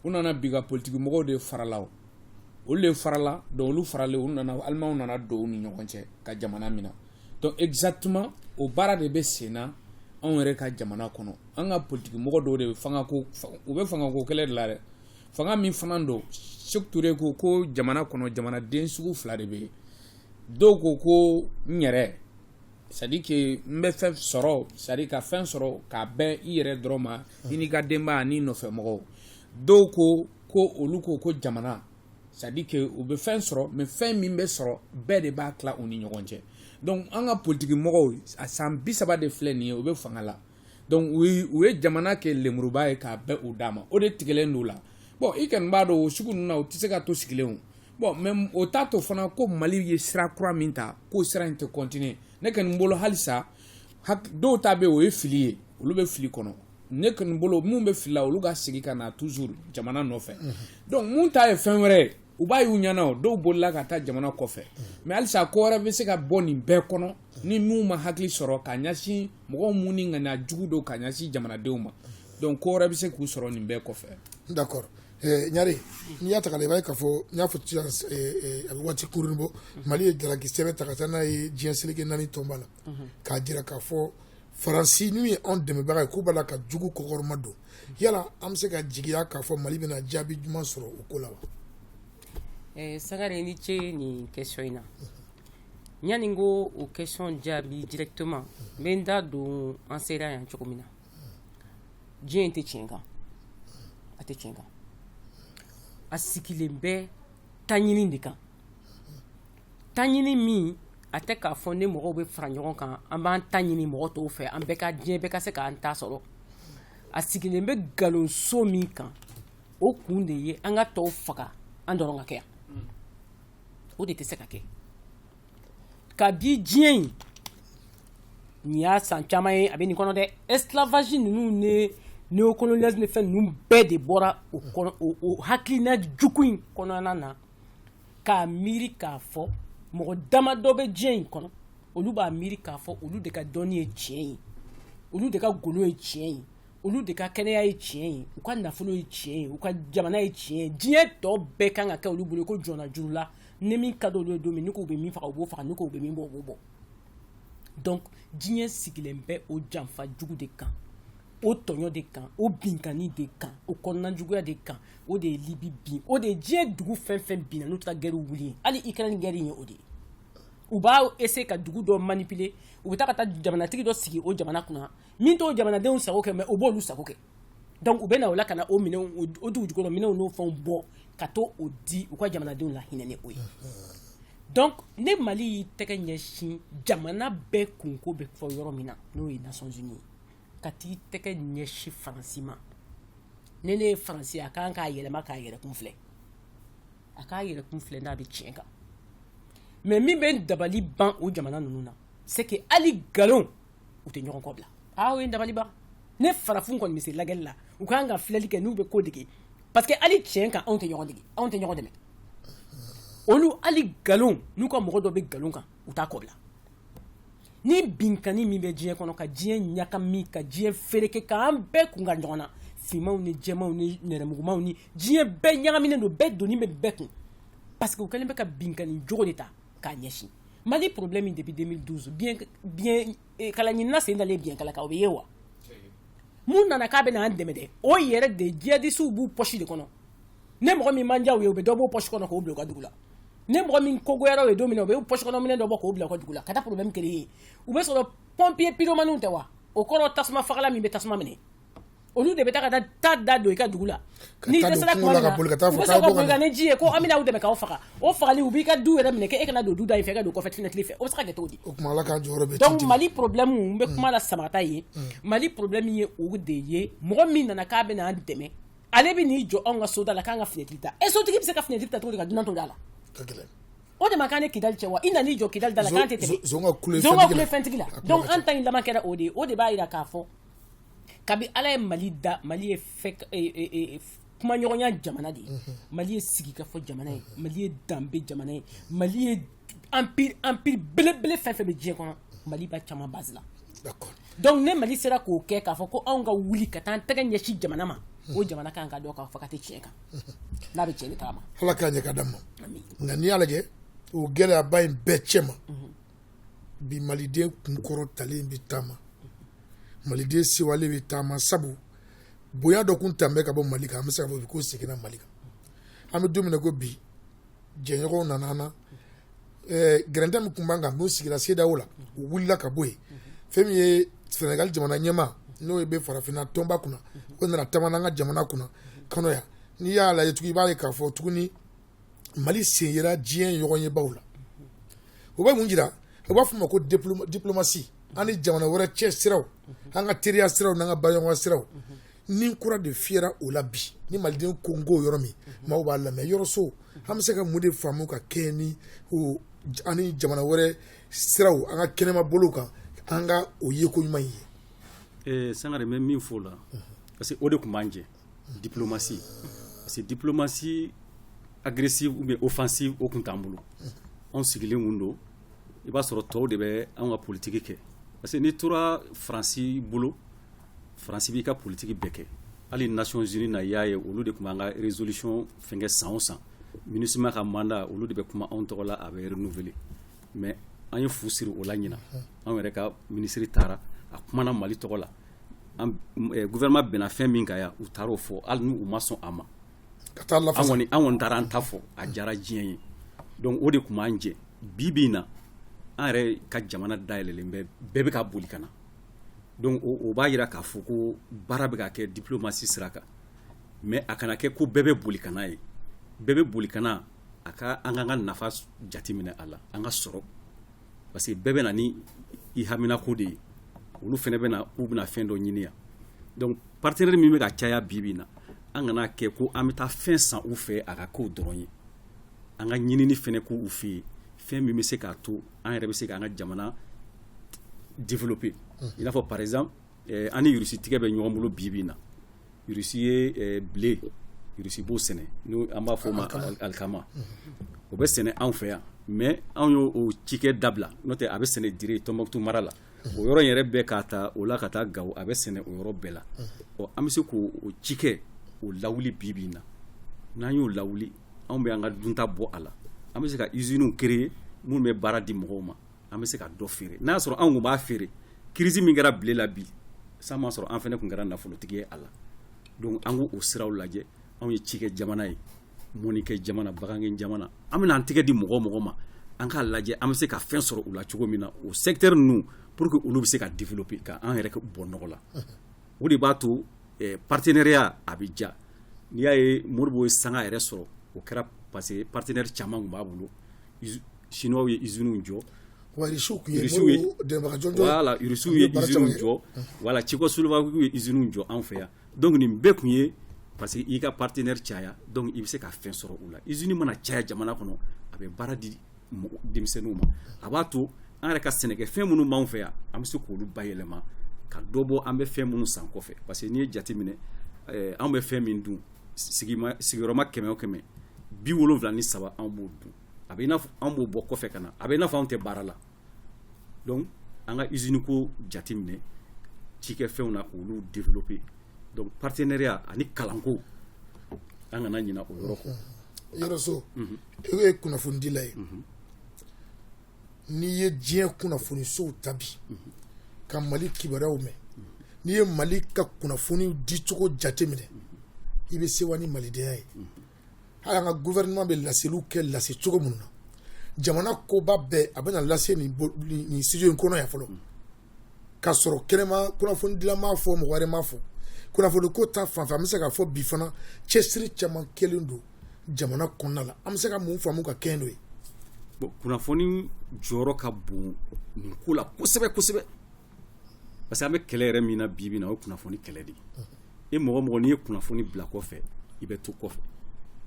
u nana bin u ka politiki mɔgɔw de farala o olu de farala donc olu faralen u nana alimanw nana don u ni ɲɔgɔn cɛ ka jamana minɛ donc exactement o baara de bɛ sen na anw yɛrɛ ka jamana kɔnɔ an ka politikimɔgɔ dɔw de bɛ fangako u bɛ fangako kɛlɛ de la dɛ fanga min fana don Seku Ture ko ko jamana kɔnɔ jamanaden sugu fila de bɛ yen dɔw ko ko n yɛrɛ c'est à dire que n bɛ fɛn sɔrɔ c'est à dire ka fɛn sɔrɔ k'a bɛn i yɛrɛ dɔrɔn ma i n'i ka denbaya n'i nɔfɛ mɔgɔw dɔw ko ko olu ko ko jamana c'est à dire que u bɛ fɛn sɔrɔ mais fɛn min bɛ sɔrɔ bɛɛ de b'a tila u ni ɲɔgɔn cɛ donc an ka politiki mɔgɔw a san bi saba de filɛ nin ye u bɛ fanga la donc u ye u ye jamana kɛ lemuruba ye k'a bɛn u da ma o de tigɛlen don u la bon i kɔni b'a dɔn o sugu ninnu na u tɛ se ka to sigilen o bon mais o t'a to fana ko mali ye sira kura min ta k'o sira in tɛ continuer ne kɔni bolo halisa dɔw ta bɛ o ye fili ye olu bɛ fili kɔnɔ ne kɔni bolo minnu bɛ fili la olu ka segin ka na toujours jamana nɔfɛ donc minnu ta ye fɛn wɛrɛ ye u b'a y'u ɲɛ na u dɔw bolila ka taa jamana kɔfɛ mais halisa ko wɛrɛ bɛ se ka bɔ nin bɛɛ kɔnɔ ni n'u ma hakili sɔrɔ ka ɲɛsin mɔgɔw minnu ni ŋaniya jugu don ka ɲɛsin jamanadenw ma donc ko wɛrɛ bɛ se k'u sɔrɔ nin bɛɛ kɔfɛ d'accord eh, ɲare n'i y'a ta k'a lajɛ i b'a ye k'a fɔ n y'a fɔ sisan eh, eh, a bɛ waati kurunin bɔ mali ye jalaki sɛbɛn ta ka taa n'a ye diɲɛ seleke naani tɔnba la k'a jira k'a fɔ faransi n'u ye anw dɛmɛbaga ye k'u b'a la ka jugu kɔkɔrɔmadon yala an bɛ se ka jigiya k'a fɔ mali bɛna jaabi ɲuman sɔrɔ o ko la wa eh, sangare i ni ce nin question in na yanni n k'o question jaabi directement n bɛ n da don an sera yan cogo min na diɲɛ in tɛ tiɲɛ kan a tɛ tiɲɛ kan a sigilen bɛ taɲini de kan taɲini min a tɛ k'a fɔ ne mɔgɔw bɛ fara ɲɔgɔn kan an b'an ta ɲini mɔgɔ tɔw fɛ an bɛɛ ka diɲɛ bɛɛ ka se k'an ta sɔrɔ a sigilen bɛ nkalonso min kan o kun de ye an ka tɔw faga an dɔrɔn ka kɛ yan o de tɛ se ka kɛ kabi diɲɛ in nin y'a san caman ye a bɛ nin kɔnɔ dɛ esclavage ninnu ni néocolonialisme ni fɛn ninnu bɛɛ de bɔra o kɔnɔ o hakilina jugu in kɔnɔna na k'a miiri k'a fɔ mɔgɔ dama dɔ bɛ diɲɛ in kɔnɔ olu b'a miiri k'a fɔ olu de ka dɔnni ye tiɲɛ ye olu de ka golo ye tiɲɛ ye olu de ka kɛnɛya ye tiɲɛ ye u ka nafolo ye tiɲɛ ye u ka jamana ye tiɲɛ ye diɲɛ tɔ bɛɛ kan ka kɛ olu bolo ko jɔnya juru la ni min ka d'olu ye don min ni k'u bɛ min faga u b'o faga ni k'u bɛ min bɔ u b'o bɔ donc diɲɛ sigilen bɛ o janfa jugu de kan o tɔɲɔ de kan o binkanni de kan o kɔnɔna juguya de kan o de ye libi bin o de ye diɲɛ dugu fɛn fɛn binna n'u taara gɛriw wuli yen hali ikɛrɛni gɛri ye o de ye u b'a essayer ka dugu dɔ manipuler u bɛ taa ka taa jamanatigi dɔ sigi o jamana kunna min t'o jamanadenw sago kɛ mais o b'olu sago kɛ donc u bɛ na o la ka na o minɛ o dugu jukɔrɔ minɛnw n'o fɛnw bɔ ka t'o di u ka jamanadenw lahinɛ ni o ye donc ni mali y'i tɛgɛ ɲɛsin jamana bɛɛ kunko bɛ fɔ yɔrɔ min na n'o ye Nations Unies ka t'i tɛgɛ ɲɛsi faransi ma ni ne ye faransi a kan k'a yɛlɛma k'a yɛrɛ kun filɛ a k'a yɛrɛ kun filɛ n'a bɛ tiɲɛ kan mais min bɛ dabali ban o jamana ninnu na c'est que hali nkalon u tɛ ɲɔgɔn kɔ bila aa o ye dabali ban ni farafin kɔni bɛ se lagɛli la u kan ka filɛli kɛ n'u bɛ ko dege parce que hali tiɲɛ kan anw tɛ ɲɔgɔn dege anw tɛ ɲɔgɔn dɛmɛ olu hali nkalon n'u ka mɔgɔ dɔ bɛ nkalon kan u t'a kɔ bila ni binkanni min bɛ diɲɛ kɔnɔ ka diɲɛ ɲagami ka diɲɛ fereke k'an bɛɛ kun ka ɲɔgɔn na finmanw ni jɛmanw ni nɛrɛmugumanw ni diɲɛ bɛɛ ɲagaminen don bɛɛ doni bɛ bɛɛ kun parce que u kɛlen bɛ ka binkanni jogo de ta k'a ɲɛsin mali problème min depuis 2012 biɲɛkala ɲinina sen dalen biɲɛkala kan o bɛ ye wa min nana k'a bɛ n'an dɛmɛ dɛ o yɛrɛ de jihadisiw b'u pɔsi de kɔnɔ ni mɔgɔ min ma diya u ye u bɛ dɔ b'o pɔsi kɔnɔ k'o bila u ka dugu la ni mɔgɔ min ko goyara u ye don min na u bɛ pɔsi kɔnɔ minɛn dɔ bɔ k'o bila u ka dugu la ka taa problème créer yen u bɛ sɔrɔ pompier pyromaniw tɛ wa o kɔrɔ tasuma fagala min bɛ tasuma mɛnɛ olu de bɛ taa ka taa ta da don i ka dugu la n'i dɛsɛra tuma min na u bɛ sɔrɔ ka boli ka na ni ji ye ko an bɛna aw dɛmɛ k'a faga o fagali u b'i ka du yɛrɛ minɛ k'e kana don du da in fɛ ka don kɔfɛ fenêtre fɛ o bɛ se ka kɛ cogo di o tuma Ala ka jɔyɔrɔ bɛ donc Mali problème n bɛ kuma la samata ye Mali problème ye o de ye mɔgɔ min nana k'a bɛna an dɛmɛ ale bɛ n'i jɔ anw ka soda la k'an ka finɛtiri ta ɛ sotigi bɛ se ka finɛtiri ta cogo di ka dunan to da la o de ma k'an ni kidali cɛ wa i nan'i jɔ kidali da la k'an tɛ tɛmɛ zon ka kule fɛntigi la donc an ta in laban kɛra o de ye o de b'a jira k'a fɔ kabi ala ye mali da mali ye fɛ e, e, e, f- kumaɲɔgɔnya jamana de ye mali ye sigikafɔ jamana ye mali ye danbe jamana ye mali ye empire belebele fɛn fɛn bɛ diɲɛ kɔnɔ mali b'a caman base la donc ni mali sera k'o kɛ k'a fɔ ko anw ka wuli ka taa an tɛgɛ ɲɛsin jamana ma o jamana kan ka dɔn k'a fɔ k'a tɛ tiɲɛ kan n'a bɛ cɛn taama ala k'a ɲɛ ka d'a ma nka n'i y'a lajɛ o gɛlɛyaba in bɛɛ cɛ ma mhm. bi maliden kunkɔrɔtalen bɛ taama maliden sewalen bɛ taama sabu bonya dɔ kun talen bɛ ka bɔ mali kan an bɛ se k'a fɔ k'o seginna mali kan an bɛ don min ko bi jɛɲɔgɔnw nana an na gɛrɛntɛ min tun b'an kan n'o sigira CEDEAO la o wulila ka bɔ yen fɛn min ye Senegal jamana ɲɛmaa n'o ye bɛ farafinna tɔnba kunna o nana taama na an ka jamana kunna kɔnɔ yan n'i y'a lajɛ tuguni i b'a ye k'a fɔ tuguni Mali sen yera diɲɛ ɲɔgɔnyebaw la o bɛ mun jira u b'a fɔ ma ko diplomasi an ni jamana wɛrɛ cɛ siraw an ka teriya siraw n'an ka baɲɔgɔnya siraw ni kura de fiyɛra o la bi ni maliden ko n ko yɔrɔ min maaw b'a lamɛn yɔrɔ so an bɛ se ka mun de faamu ka kɛ ni an ni jamana wɛrɛ siraw an ka kɛnɛma bolo kan an ka o ye ko ɲuman ye Sangare n bɛ min fɔ o la parce que o de tun b'an jɛ diplomasi parce que diplomasi agressive ou bien offensive o tun t'an bolo anw sigilen kun don i b'a sɔrɔ tɔw de bɛ an ka politiki kɛ parce que n'i tora faransi bolo faransi b'i ka politiki bɛɛ kɛ hali Nations Unies na i y'a ye olu de tun b'an ka résolution fɛnkɛ san o san MINUSMA ka mandat olu de bɛ kuma anw tɔgɔ la a bɛ renouveler mais an ye fu siri o la ɲinan anw yɛrɛ ka minisiri taara a kumana mali tɔgɔ la an eh, gouvernement bɛnna fɛn min kan yan u taara o fɔ hali n'u ma sɔn a ma ka taa an kɔni an kɔni taara an ta fɔ a diyara diɲɛ ye donc o de tun b'an jɛ bi bi in na an yɛrɛ ka jamana dayɛlɛlen bɛ bɛɛ bɛ ka boli ka na donc o b'a jira k'a fɔ ko baara bɛ ka kɛ diplomasi sira kan mais a kana kɛ ko bɛɛ bɛ boli ka na ye bɛɛ bɛ boli ka na a ka an k'an ka nafa jateminɛ a la an ka sɔrɔ parce que bɛɛ bɛ na ni i haminako de ye olu fana bɛ na k'u bɛna fɛn dɔ ɲini yan donc partenaire min bɛ ka caya bi bi in na an kana kɛ ko an bɛ taa fɛn san u fɛ a ka k'o dɔrɔn ye an ka ɲinini fana k'u fɛ yen fɛn min bɛ se k'a to an yɛrɛ bɛ se k'an ka jamana développer i n'a fɔ par exemple eh, an ni Russie tigɛ bɛ ɲɔgɔn bolo bi bi in na Russie ye eh, blé Russie b'o sɛnɛ n'o an b'a fɔ o ma al- alikama o bɛ sɛnɛ anw fɛ yan mais anw y'o o cikɛ dabila n'o tɛ a bɛ sɛnɛ Dire Tombouctou mara la o yɔrɔ in yɛrɛ bɛɛ k'a ta o la ka taa Gawo a bɛ sɛnɛ o yɔrɔ bɛɛ la ɔ an bɛ se k'o o cikɛ o lawuli bi bi in na n'an y'o lawuli anw bɛ an ka dunta bɔ a la an bɛ se ka iziniw créer minnu bɛ baara di mɔgɔw ma an bɛ se ka dɔ feere n'a y'a sɔrɔ anw kun b'a feere crise min kɛra blé la bi san m'a sɔrɔ an fana tun kɛra nafolotigi ye a la donc an k'o siraw lajɛ anw ye cikɛ jamana ye mɔnikɛ jamana bagankɛ jamana an bɛna an tɛgɛ di mɔgɔ o mɔgɔ ma an k'a lajɛ an bɛ se ka fɛn sɔrɔ u la cogo min na o secteur ninnu pour que olu bɛ se ka développer ka an yɛrɛ bɔ nɔgɔ la o de b'a to eh, partenariat a bɛ diya n'i y'a ye Modibo ye sanga yɛrɛ sɔrɔ o kɛra parce que partenaire caman tun b'a bolo chinois ye usines jɔ wa irisiw tun ye Modibo dɛmɛbaga jɔnjɔn ye voilà irisiw ye usines jɔ voilà Tchécoslovaquie ye usines jɔ anw fɛ yan donc nin bɛɛ tun ye parce que i ka partenaire caya donc i bɛ se ka fɛn sɔrɔ u la usine mana caya jamana kɔnɔ a bɛ baara di denmisɛnninw ma a b'a to an yɛrɛ ka sɛnɛkɛfɛn minnu b'an fɛ yan an bɛ se k'olu bayɛlɛma ka dɔ bɔ an bɛ fɛn minnu san kɔfɛ parce que n'i ye jate minɛ eh, an bɛ fɛn min dun sigiyɔrɔma kɛmɛ o kɛmɛ bi wolonwula ni saba an b'o dun a bɛ i n'a fɔ an b'o bɔ kɔfɛ ka na a bɛ i n'a fɔ anw tɛ baara la donc an ka usine ko jate minɛ cikɛfɛnw na k'olu développer donc partenariat ani kalanko an kana ɲina o yɔrɔ kɔ yɔrɔ so e ye kunnafonidila ye n'i ye diɲɛ kunnafonisow ta bi ka mali kibaruyaw mɛn n'i ye mali ka kunnafoni dicogo jate minɛ i bɛ sewa ni malidenya ye hali an ka gouvernement bɛ laseliw kɛ lase cogo minnu na jamana koba bɛɛ a bɛna lase nin studio in kɔnɔ yan fɔlɔ ka sɔrɔ kɛnɛma kunnafonidila m'a fɔ mɔgɔ wɛrɛ m'a fɔ kunnafoni ko ta fanfɛ an bɛ se ka fɔ bi fana cɛsiri caman kɛlen don jamana kɔnɔna la an bɛ se ka mun faamu ka kɛɲɛ n'o ye bon kunnafoni jɔyɔrɔ ka bon nin ko la kosɛbɛ kosɛbɛ parce que an bɛ kɛlɛ yɛrɛ min na bi na o ye kunnafoni kɛlɛ de ye mɔgɔ mɔgɔ n'i ye kunnafoni bila kɔfɛ i bɛ to kɔfɛ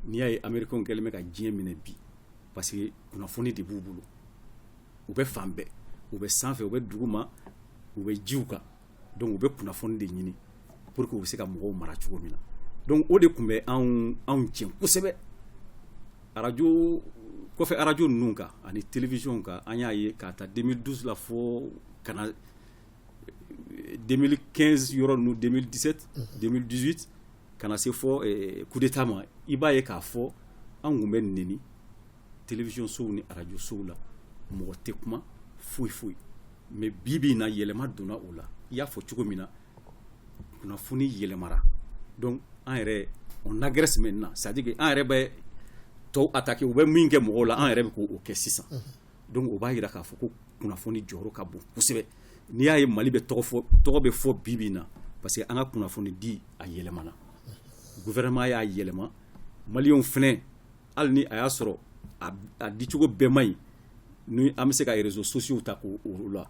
n'i y'a ye américains kɛlen bɛ ka diɲɛ minɛ bi parce que kunnafoni de b'u bolo u bɛ fan bɛɛ u bɛ sanfɛ u bɛ duguma u bɛ jiw kan donc u bɛ kunnafoni de ɲini pour que u bɛ se ka mɔgɔw mara cogo min na donc o de tun bɛ anw anw tiɲɛ kosɛbɛ arajo kɔfɛ arajo ninnu kan ani télévision kan an y'a ye k'a ta deux mille douze la fɔ ka na deux mille quinze yɔrɔ ninnu deux mille dix-sept deux mille dix-huit ka na se fɔ coup d'état ma i b'a ye k'a fɔ an tun bɛ neni télévision sow ni radio sow la mɔgɔ tɛ kuma foyi foyi mais bi bi in na yɛlɛma donna o la i y'a fɔ cogo min na kunnafoni yɛlɛmara donc an yɛrɛ on agresse maintenant c'est à dire que an yɛrɛ bɛ tɔw attaquer u bɛ min kɛ mɔgɔw la an yɛrɛ bɛ k'o kɛ sisan donc o b'a jira k'a fɔ ko kunnafoni jɔyɔrɔ ka bon kosɛbɛ n'i y'a ye mali bɛ tɔgɔ fɔ tɔgɔ bɛ fɔ bi bi in na parce que an ka kunnafoni di a yɛlɛmana gouvernement y'a yɛlɛma maliyɛnw fɛnɛ hali ni a y'a sɔrɔ a dicogo bɛɛ man ɲi ni an bɛ se ka réseaux sociaux ta ko o la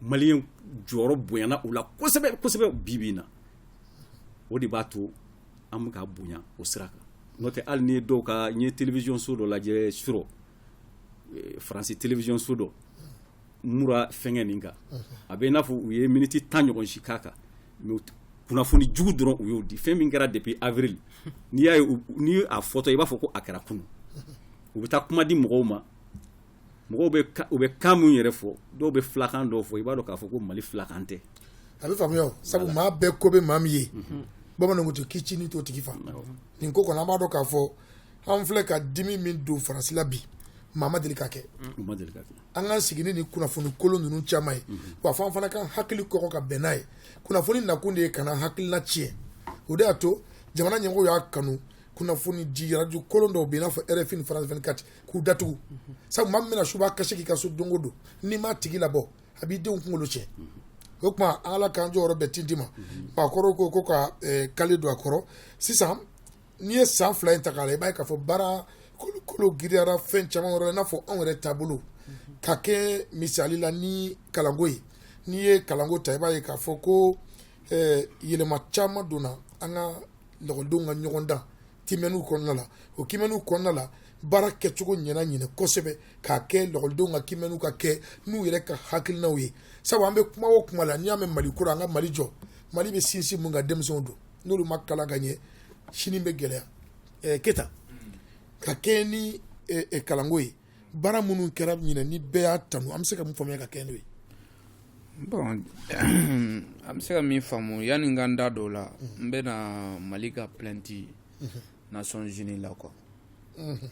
maliyɛn jɔyɔrɔ bonyana u la kosɛbɛ kosɛbɛ bi bi na o de b'a to an bɛ ka bonya o sira kan n'o tɛ hali ne ye dɔw ka n ye télévision so dɔ lajɛ surɔ eh, faransi télévision so dɔ Moura fɛngɛ nin kan a bɛ i n'a fɔ u ye miniti tan ɲɔgɔn si k'a kan kunnafoni jugu dɔrɔn u y'o di fɛn min kɛra depuis avril n'i y'a ye ni a fɔtɔ i b'a fɔ ko a kɛra kunun u bɛ taa kuma di mɔgɔw ma mɔgɔw u bɛ kan min yɛrɛ fɔ dɔw bɛ filakan dɔw fɔ i b'a dɔn k'a fɔ ko mali filakan tɛ a bɛ faamuya sabu maa bɛɛ ko bɛ maa min ye mhm. bamananw tɛ k'i ci ni to tigi fa nin ko kɔnɔ an b'a dɔn k'a fɔ an filɛ ka dimi min don faransi la bi maa ma deli ka kɛ an ka sigi ni kunnafoni kolon ninnu caman ye wa fɔ an fana k'an hakili kɔkɔ ka bɛn n'a ye kunnafoni nakun de ye ka na hakilina tiɲɛ o de y'a to jamana ɲɛmɔgɔw y'a kanu kunnafoni di radio kolon dɔw bɛ i n'a fɔ RFI ni France 24 k'u datugu sabu maa min bɛna suba kasi k'i ka so don o don n'i m'a tigi labɔ a b'i denw kunkolo tiɲɛ o tuma an ala k'an jɔyɔrɔ bɛɛ tinti ma maakɔrɔw ko ko ka kale don a kɔrɔ sisan N'i ye san fila in ta k'a la i b'a ye k'a fɔ baara kolo girinyara fɛn caman yɔrɔ n'a fɔ anw yɛrɛ taabolo ka kɛ misali la ni kalanko ye n'i ye kalanko ta i b'a ye k'a fɔ ko yɛlɛma caman donna an ka lakɔlidenw ka ɲɔgɔn dan kiimɛniw kɔnɔna la o kiimɛniw kɔnɔna la baara kɛcogo ɲɛna ɲinɛ kosɛbɛ k'a kɛ lakɔlidenw ka kiimɛniw ka kɛ n'u yɛrɛ ka hakilinaw ye sabu an bɛ kuma o kuma la n'i y'a mɛn mali kura an ka mali jɔ mali bɛ sinsin mun kan denmisɛnw don n'olu ma kalan ka ɲɛ sini bɛ gɛlɛya eh, keyita ka kɛɲɛ ni eh, eh, kalanko ye baara minnu kɛra ɲinɛ ni bɛɛ y'a tanu an bɛ se ka mun faamuya ka kɛɲɛ n'o ye bon an bɛ se ka min faamu yanni n ka n da dɔw la n bɛna mali ka plainte mhm. nations unies la quoi mhm.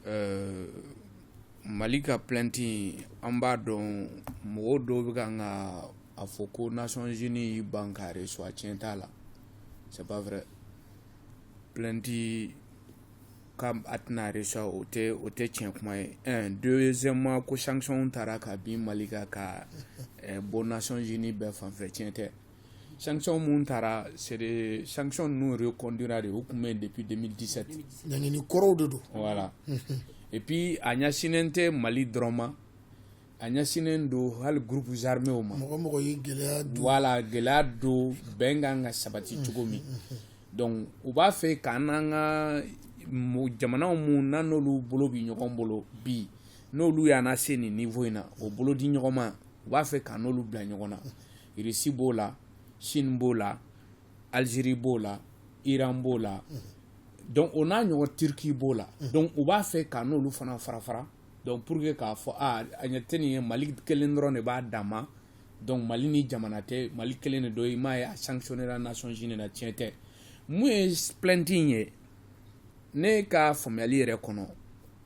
Euh, mali ka plainte an b'a dɔn mɔgɔw dɔw bɛ kan ka a fɔ ko nations unies y'i ban ka recevoir tiɲɛ t'a la c'est pas vrai plainte ka a tɛna recevoir o tɛ o tɛ tiɲɛ kuma ye un deuxièmement ko sanction taara ka bin mali kan ka eh, bɔ nations unies bɛɛ fanfɛ tiɲɛ tɛ sanction minnu taara c'est des sanction ninnu reconduira de o tun bɛ yen depuis deux mille dix-sept ɲangini kɔrɔw de don voilà et puis a ɲɛsinnen tɛ mali dɔrɔn ma a ɲɛsinnen don hali groupes armésw ma mɔgɔ mɔgɔ ye gɛlɛya don voilà gɛlɛya don bɛnkan ka sabati cogo min donc u b'a fɛ k'an n'an ka jamanaw minnu n'an n'olu bolo bi ɲɔgɔn bolo bi n'olu y'an se nin niveau in na o bolo di ɲɔgɔn ma u b'a fɛ k'an n'olu bila ɲɔgɔn na russie b'o la chine b'o la algérie b'o la iran b'o la donc o n'a ɲɔgɔn turquie b'o la donc u b'a fɛ k'an n'olu fana fara fara donc pour que k'a fɔ a ɲɛ tɛ nin ye mali kelen dɔrɔn de b'a dan ma donc mali ni jamana tɛ mali kelen de don i m'a ye a sanctionnera nations unies na tiɲɛ tɛ mun ye plainte in ye ne ka faamuyali yɛrɛ kɔnɔ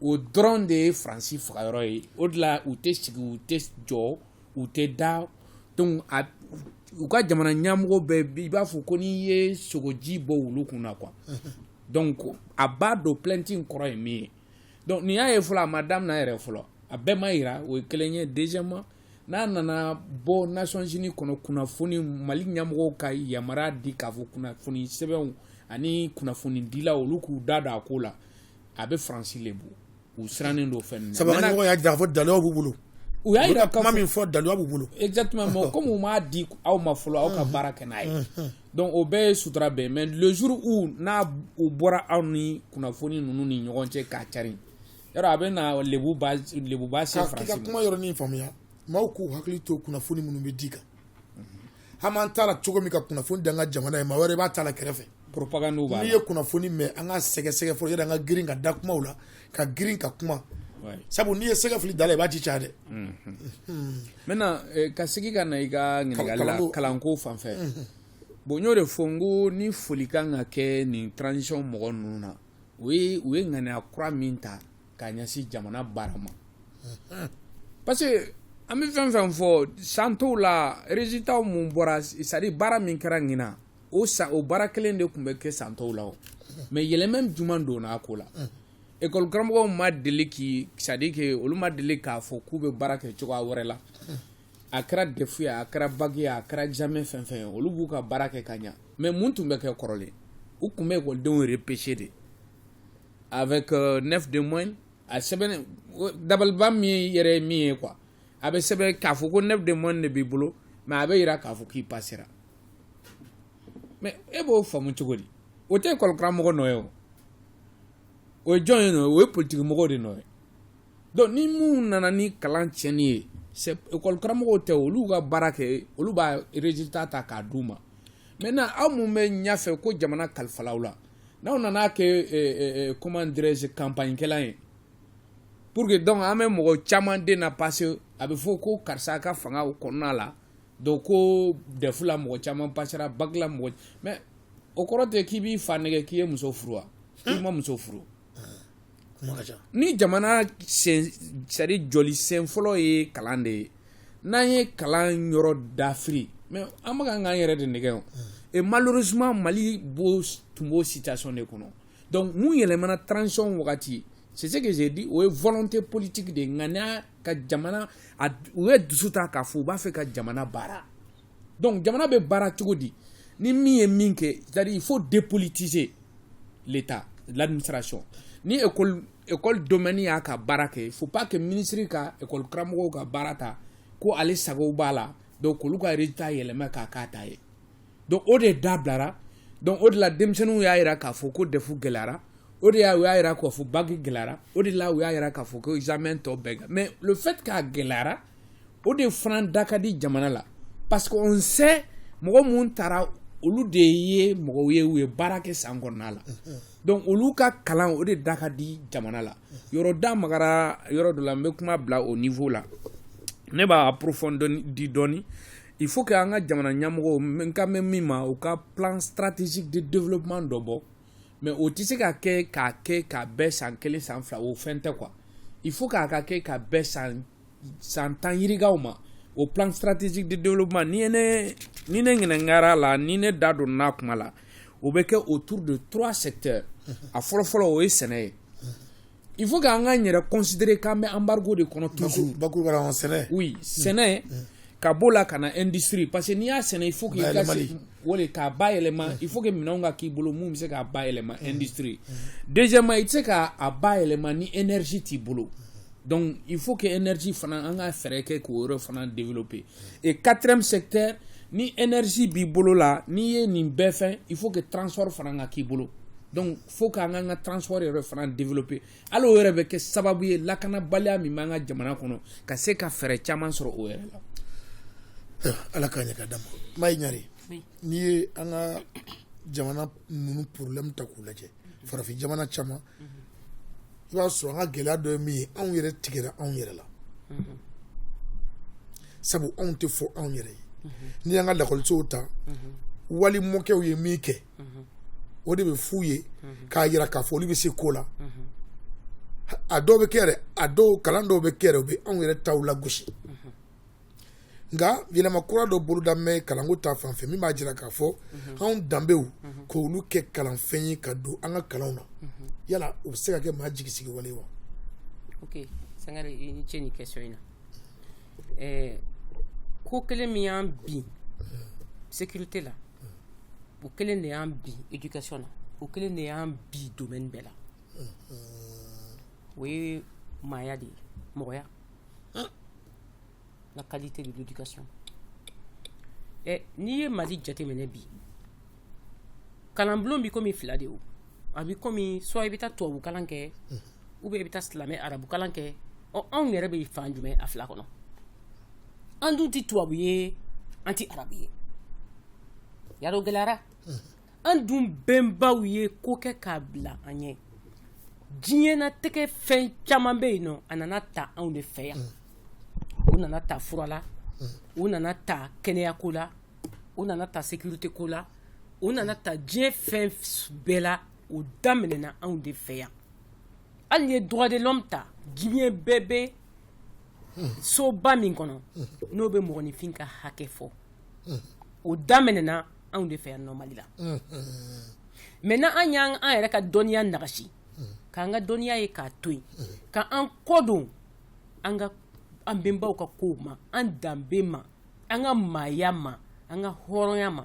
o dɔrɔn de ye faransi fagayɔrɔ ye o de la u tɛ sigi u tɛ jɔ u tɛ da donc a u ka jamana ɲamɔgɔ bɛɛ i b'a fɔ ko n'i ye sogoji bɔn wulu kun na quoi donc a b'a dɔn plainte in kɔrɔ ye min ye donc nin y'a ye fɔlɔ a ma daminɛ yɛrɛ fɔlɔ a bɛɛ ma yira o ye kelen ye deuxièmement n'a nana bɔ nations unies kɔnɔ kunnafoni mali ɲɛmɔgɔw ka yamaruya di k'a fɔ kunnafoni sɛbɛnw ani kunnafoni dilaw olu k'u da don a ko la a bɛ faransi lebu u sirannen don fɛn ninnu sabu y'a jira k'a fɔ daliluw b'u bolo u y'a jira kuma min fɔ daliluya b'u bolo exactement mais comme u m'a di aw ma fɔlɔ aw ka baara kɛ n'a ye donc o bɛɛ ye sutura bɛɛ mais le jour où n'u bɔra aw ni kunnafoni ninnu ni ɲɔgɔn cɛ k'a cari yɔrɔ a bɛ na lebuba se faransi ma k'i ka kuma yɔrɔnin faamuya maaw k'u hakili to kunnafoni minnu bɛ di kan an b'an ta la cogo min ka kunnafoni d'an ka jamana ye maa wɛrɛ b'a ta la kɛrɛfɛ propagande b'a la n'i ye kunnafoni mɛn an ka sɛgɛsɛgɛ fɔlɔ yɛrɛ an ka girin ka da kumaw la ka girin ka kuma sabu n'i ye sɛgɛ fili da la i b'a ci ca dɛ maintenant ka segin ka na i ka ɲininkali la kalanko fan fɛ bon n y'o de fɔ n ko ni foli kan ka kɛ nin transition mɔgɔ ninnu na u ye ŋaniya kura min ta ka ɲɛsin jamana baara ma parce que an bɛ fɛn fɛn fɔ san tɔw la résultat mun bɔra c'est à dire baara min kɛra ɲinan o san o baara kelen de tun bɛ kɛ san tɔw la o mais yɛlɛma jumɛn donna a ko la ekɔli karamɔgɔw ma deli k'i c'est à dire que olu ma deli k'a fɔ k'u bɛ baara kɛ cogoya wɛrɛ la a kɛra defu ye a kɛra bac ye a kɛra examen fɛn fɛn ye olu b'u ka baara kɛ ka ɲa mais mun tun bɛ kɛ kɔrɔlen u tun bɛ ekɔlidenw repêcher de avec 9 de moyenne a sɛbɛn dabaliban min yɛrɛ min ye quoi a bɛ sɛbɛn k'a fɔ ko 9 de moyenne de b'i bolo mais a bɛ yira k'a fɔ k'i pasera mais e b'o faamu cogo di o tɛ école karamɔgɔ nɔ ye o o ye jɔn ye nɔ o ye politiki mɔgɔw de nɔ ye donc ni mun nana ni kalan tiɲɛni ye école karamɔgɔw tɛ olu ka baara kɛ olu b'a résultat ta k'a d'u ma maintenant aw mun bɛ ɲɛfɛ ko jamana kalifal'aw la n'aw nana kɛ comment dirais-je campagne kɛla ye pour que donc an bɛ mɔgɔ caman den na passer a bɛ fɔ ko karisa ka fanga kɔnɔna la donc ko defu la mɔgɔ caman pasera bac la mɔgɔ mais o kɔrɔ tɛ k'i b'i fa nɛgɛn k'i ye muso furu wa i ma muso furu ni jamana c'est à dire jɔli sen fɔlɔ ye kalan de ye n'an ye kalan yɔrɔ dafiri mais an bɛka ka k'an yɛrɛ de nɛgɛn o et malheureusement mali bon tun b'o situation de kɔnɔ donc mun yɛlɛmana transition wagati c'est ce que j'ai dit o ye volonté politique de ye ŋaniya ka jamana u ye dusu ta k'a fɔ u b'a fɛ ka jamana baara donc jamana bɛ baara cogo di ni min ye min kɛ c'est à dire il faut dépolitiser l'état l'administration ni école école domaine y'a ka baara kɛ il faut pas que ministre ka école karamɔgɔw ka baara ta ko ale sago b'a la donc k'olu ka résultat yɛlɛma k'a k'a ta ye donc o de dabilara donc o de la denmisɛnninw y'a yira k'a fɔ ko DEF gɛlɛyara o de y'a u y'a yira k'a fɔ bac gɛlɛyara o de la u y'a yira k'a fɔ ko examen tɔ bɛɛ mais le fait k'a gɛlɛyara o de fana da ka di jamana la parce que on sait mɔgɔ mun taara olu de ye mɔgɔw ye u ye baara kɛ san kɔnɔna la donc olu ka kalan o de da ka di jamana la yɔrɔ da magara yɔrɔ dɔ la n bɛ kuma bila o niveau la ne b'a approfondi dɔɔni il faut que an ka jamana ɲɛmɔgɔw n ka mɛn min ma u ka plan stratégique de développement dɔ bɔ mais o tɛ se ka kɛ k'a kɛ ka bɛn san kelen san fila o fɛn tɛ quoi il faut k'a ka kɛ ka bɛn san san tan yirikaw ma o plan stratégique de développement ni ne ni ne ɲininkara la ni ne da donna kuma la o bɛ kɛ autour de trois secteurs a fɔlɔfɔlɔ o ye sɛnɛ ye il faut k'an k'an yɛrɛ considérer k'an bɛ embargo de kɔnɔ toujours sɛnɛ sɛnɛ ka b'o la ka na industrie parce que n'i y'a sɛnɛ il faut que i ka se o de k'a bayɛlɛma il faut que minɛnw ka k'i bolo mun bɛ se k'a bayɛlɛma industrie deuxièmement i tɛ se k'a bayɛlɛma ni énergie t'i bolo donc il faut que énergie fana an ka fɛɛrɛ kɛ k'o yɔrɔ fana développer et quatrième secteur ni énergie b'i bolo la n'i ye nin bɛɛ fɛn il faut que transport fana ka k'i bolo donc faut k'an k'an ka transport yɛrɛ fana développer hali o yɛrɛ bɛ kɛ sababu ye lakanabaliya min b'an ka jamana kɔnɔ ka se ka fɛɛrɛ caman sɔrɔ o yɛrɛ la ala k'a ɲɛ ka d'a ma mayi ɲare n'i ye an ka jamana ninnu problème ta k'u lajɛ farafin jamana caman i b'a sɔrɔ an ka gɛlɛya dɔ ye min ye anw yɛrɛ tigɛra anw yɛrɛ la sabu anw tɛ fɔ anw yɛrɛ ye n'i y'an ka lakɔlisow ta wali mɔkɛw ye min kɛ o de bɛ f'u ye k'a jira k'a fɔ olu bɛ se ko la a dɔw bɛ kɛ yɛrɛ a dɔw kalan dɔw bɛ kɛ yɛrɛ u bɛ anw yɛrɛ taw lagosi nka yɛlɛma kura dɔ boloda mɛ kalanko ta fan fɛ min b'a jira k'a fɔ anw danbew k'olu kɛ kalanfɛn ye ka don an ka kalanw na yala o bɛ se ka kɛ maa jigisigi wale wa ok sangare i ni ce ni question in na ɛɛ ko kelen min y'an bin sécurité la o kelen de y'an bin éducation na o kelen de y'an bin domaine bɛɛ la o ye maaya de ye mɔgɔya la qualité de l'éducation ɛ n'i ye mali jateminɛ bi kalanbulon bi komi fila de ye o a bi komi soit i bɛ taa tubabu kalan kɛ ou bien i bɛ taa silamɛ arabukalan kɛ ɔ anw yɛrɛ bɛ fan jumɛn a fila kɔnɔ an dun tɛ tubabu ye an tɛ arabu ye yadɔ gɛlɛyara an dun bɛnbaw ye ko kɛ k'a bila an ɲɛ diɲɛnatigɛ fɛn caman bɛ yen nɔ a nana ta anw de fɛ yan u nana ta fura la u nana ta kɛnɛyako la u nana ta sécurité ko la u nana ta diɲɛ fɛn bɛɛ la o daminɛna anw de fɛ yan hali ye droit de l'homme ta diɲɛ bɛɛ bɛ soba min kɔnɔ n'o bɛ mɔgɔninfin ka hakɛ fɔ o daminɛna anw de fɛ yan nɔ Mali la maintenant an y'an yɛrɛ ka dɔnniya nagasi k'an ka dɔnniya ye k'a to yen k'an kɔdon an bɛnbaw ka kow ma an danbe ma an ka maaya ma an ka hɔrɔnya ma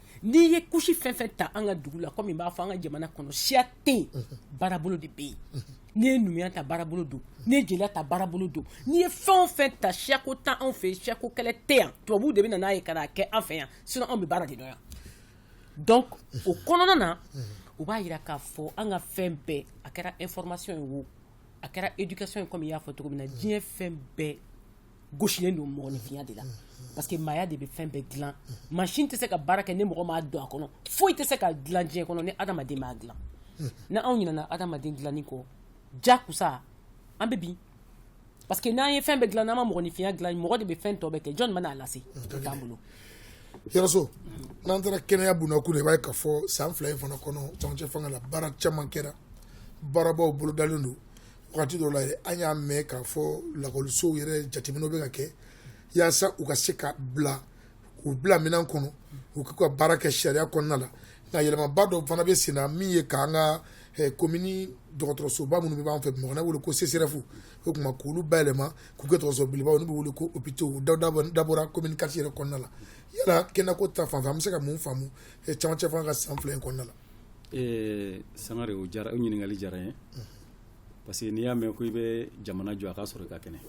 n'i ye couche fɛn fɛn ta an ka dugu la kɔmi n b'a fɔ an ka jamana kɔnɔ siya tɛ baarabolo de bɛ yen n'i ye numuya ta baarabolo don n'i ye jeliya ta baarabolo don n'i ye fɛn o fɛn ta siyako tɛ anw fɛ siyako kɛlɛ tɛ yan tubabu de bɛ na n'a ye ka n'a kɛ an fɛ yan sinon anw bɛ baara de dɔn yan donc o kɔnɔna na u b'a jira k'a fɔ an ka fɛn bɛɛ a kɛra information ye wo a kɛra éducation ye kɔmi i y'a fɔ cogo min na diɲɛ fɛn bɛɛ gosilen don mɔgɔninfinya de la parce que maaya de bɛ fɛn bɛɛ dilan machine tɛ se ka baara kɛ ni mɔgɔ ma don a kɔnɔ foyi tɛ se ka dilan diɲɛ kɔnɔ ni adamaden m'a dilan ni anw ɲinɛna adamaden dilanni kɔ ja kusa an bɛ bin parce que n'an ye fɛn bɛɛ dilan n'an ma mɔgɔninfinya dilan mɔgɔ de bɛ fɛn tɔ bɛɛ kɛ jɔn bɛna a lase o t'an bolo yɛrɛso n'an taara kɛnɛya bunda kun i b'a ye k'a fɔ san fila in fana kɔnɔ camancɛ fanga la baara caman kɛra baarabaw bolodalen don Wagati dɔ la an y'a mɛn k'a fɔ lakɔlisow yɛrɛ jateminɛw bɛ ka kɛ walasa u ka se ka bila u bila minɛn kɔnɔ u k'u ka baara kɛ sariya kɔnɔna la nka yɛlɛmaba dɔ fana bɛ sen na min ye k'an ka eh, komini dɔgɔtɔrɔsoba minnu b'an fɛ Bamakɔ n'a wele ko CSREF o tuma k'olu bayɛlɛma k'u kɛ dɔgɔtɔrɔso belebeleba olu bɛ wele ko hôpitaux a dabɔra komini quatre yɛrɛ kɔnɔna la yala kɛnɛko ta fanfɛ an bɛ se ka mun faamu eh, camancɛ fanga ka san fila in kɔnɔna la. Eh, Sangare o diyara o ɲininkali diyara n ye. parce que n'i y'a mɛn ko i bɛ jamana jɔ a ka sɔrɔ i ka kɛnɛ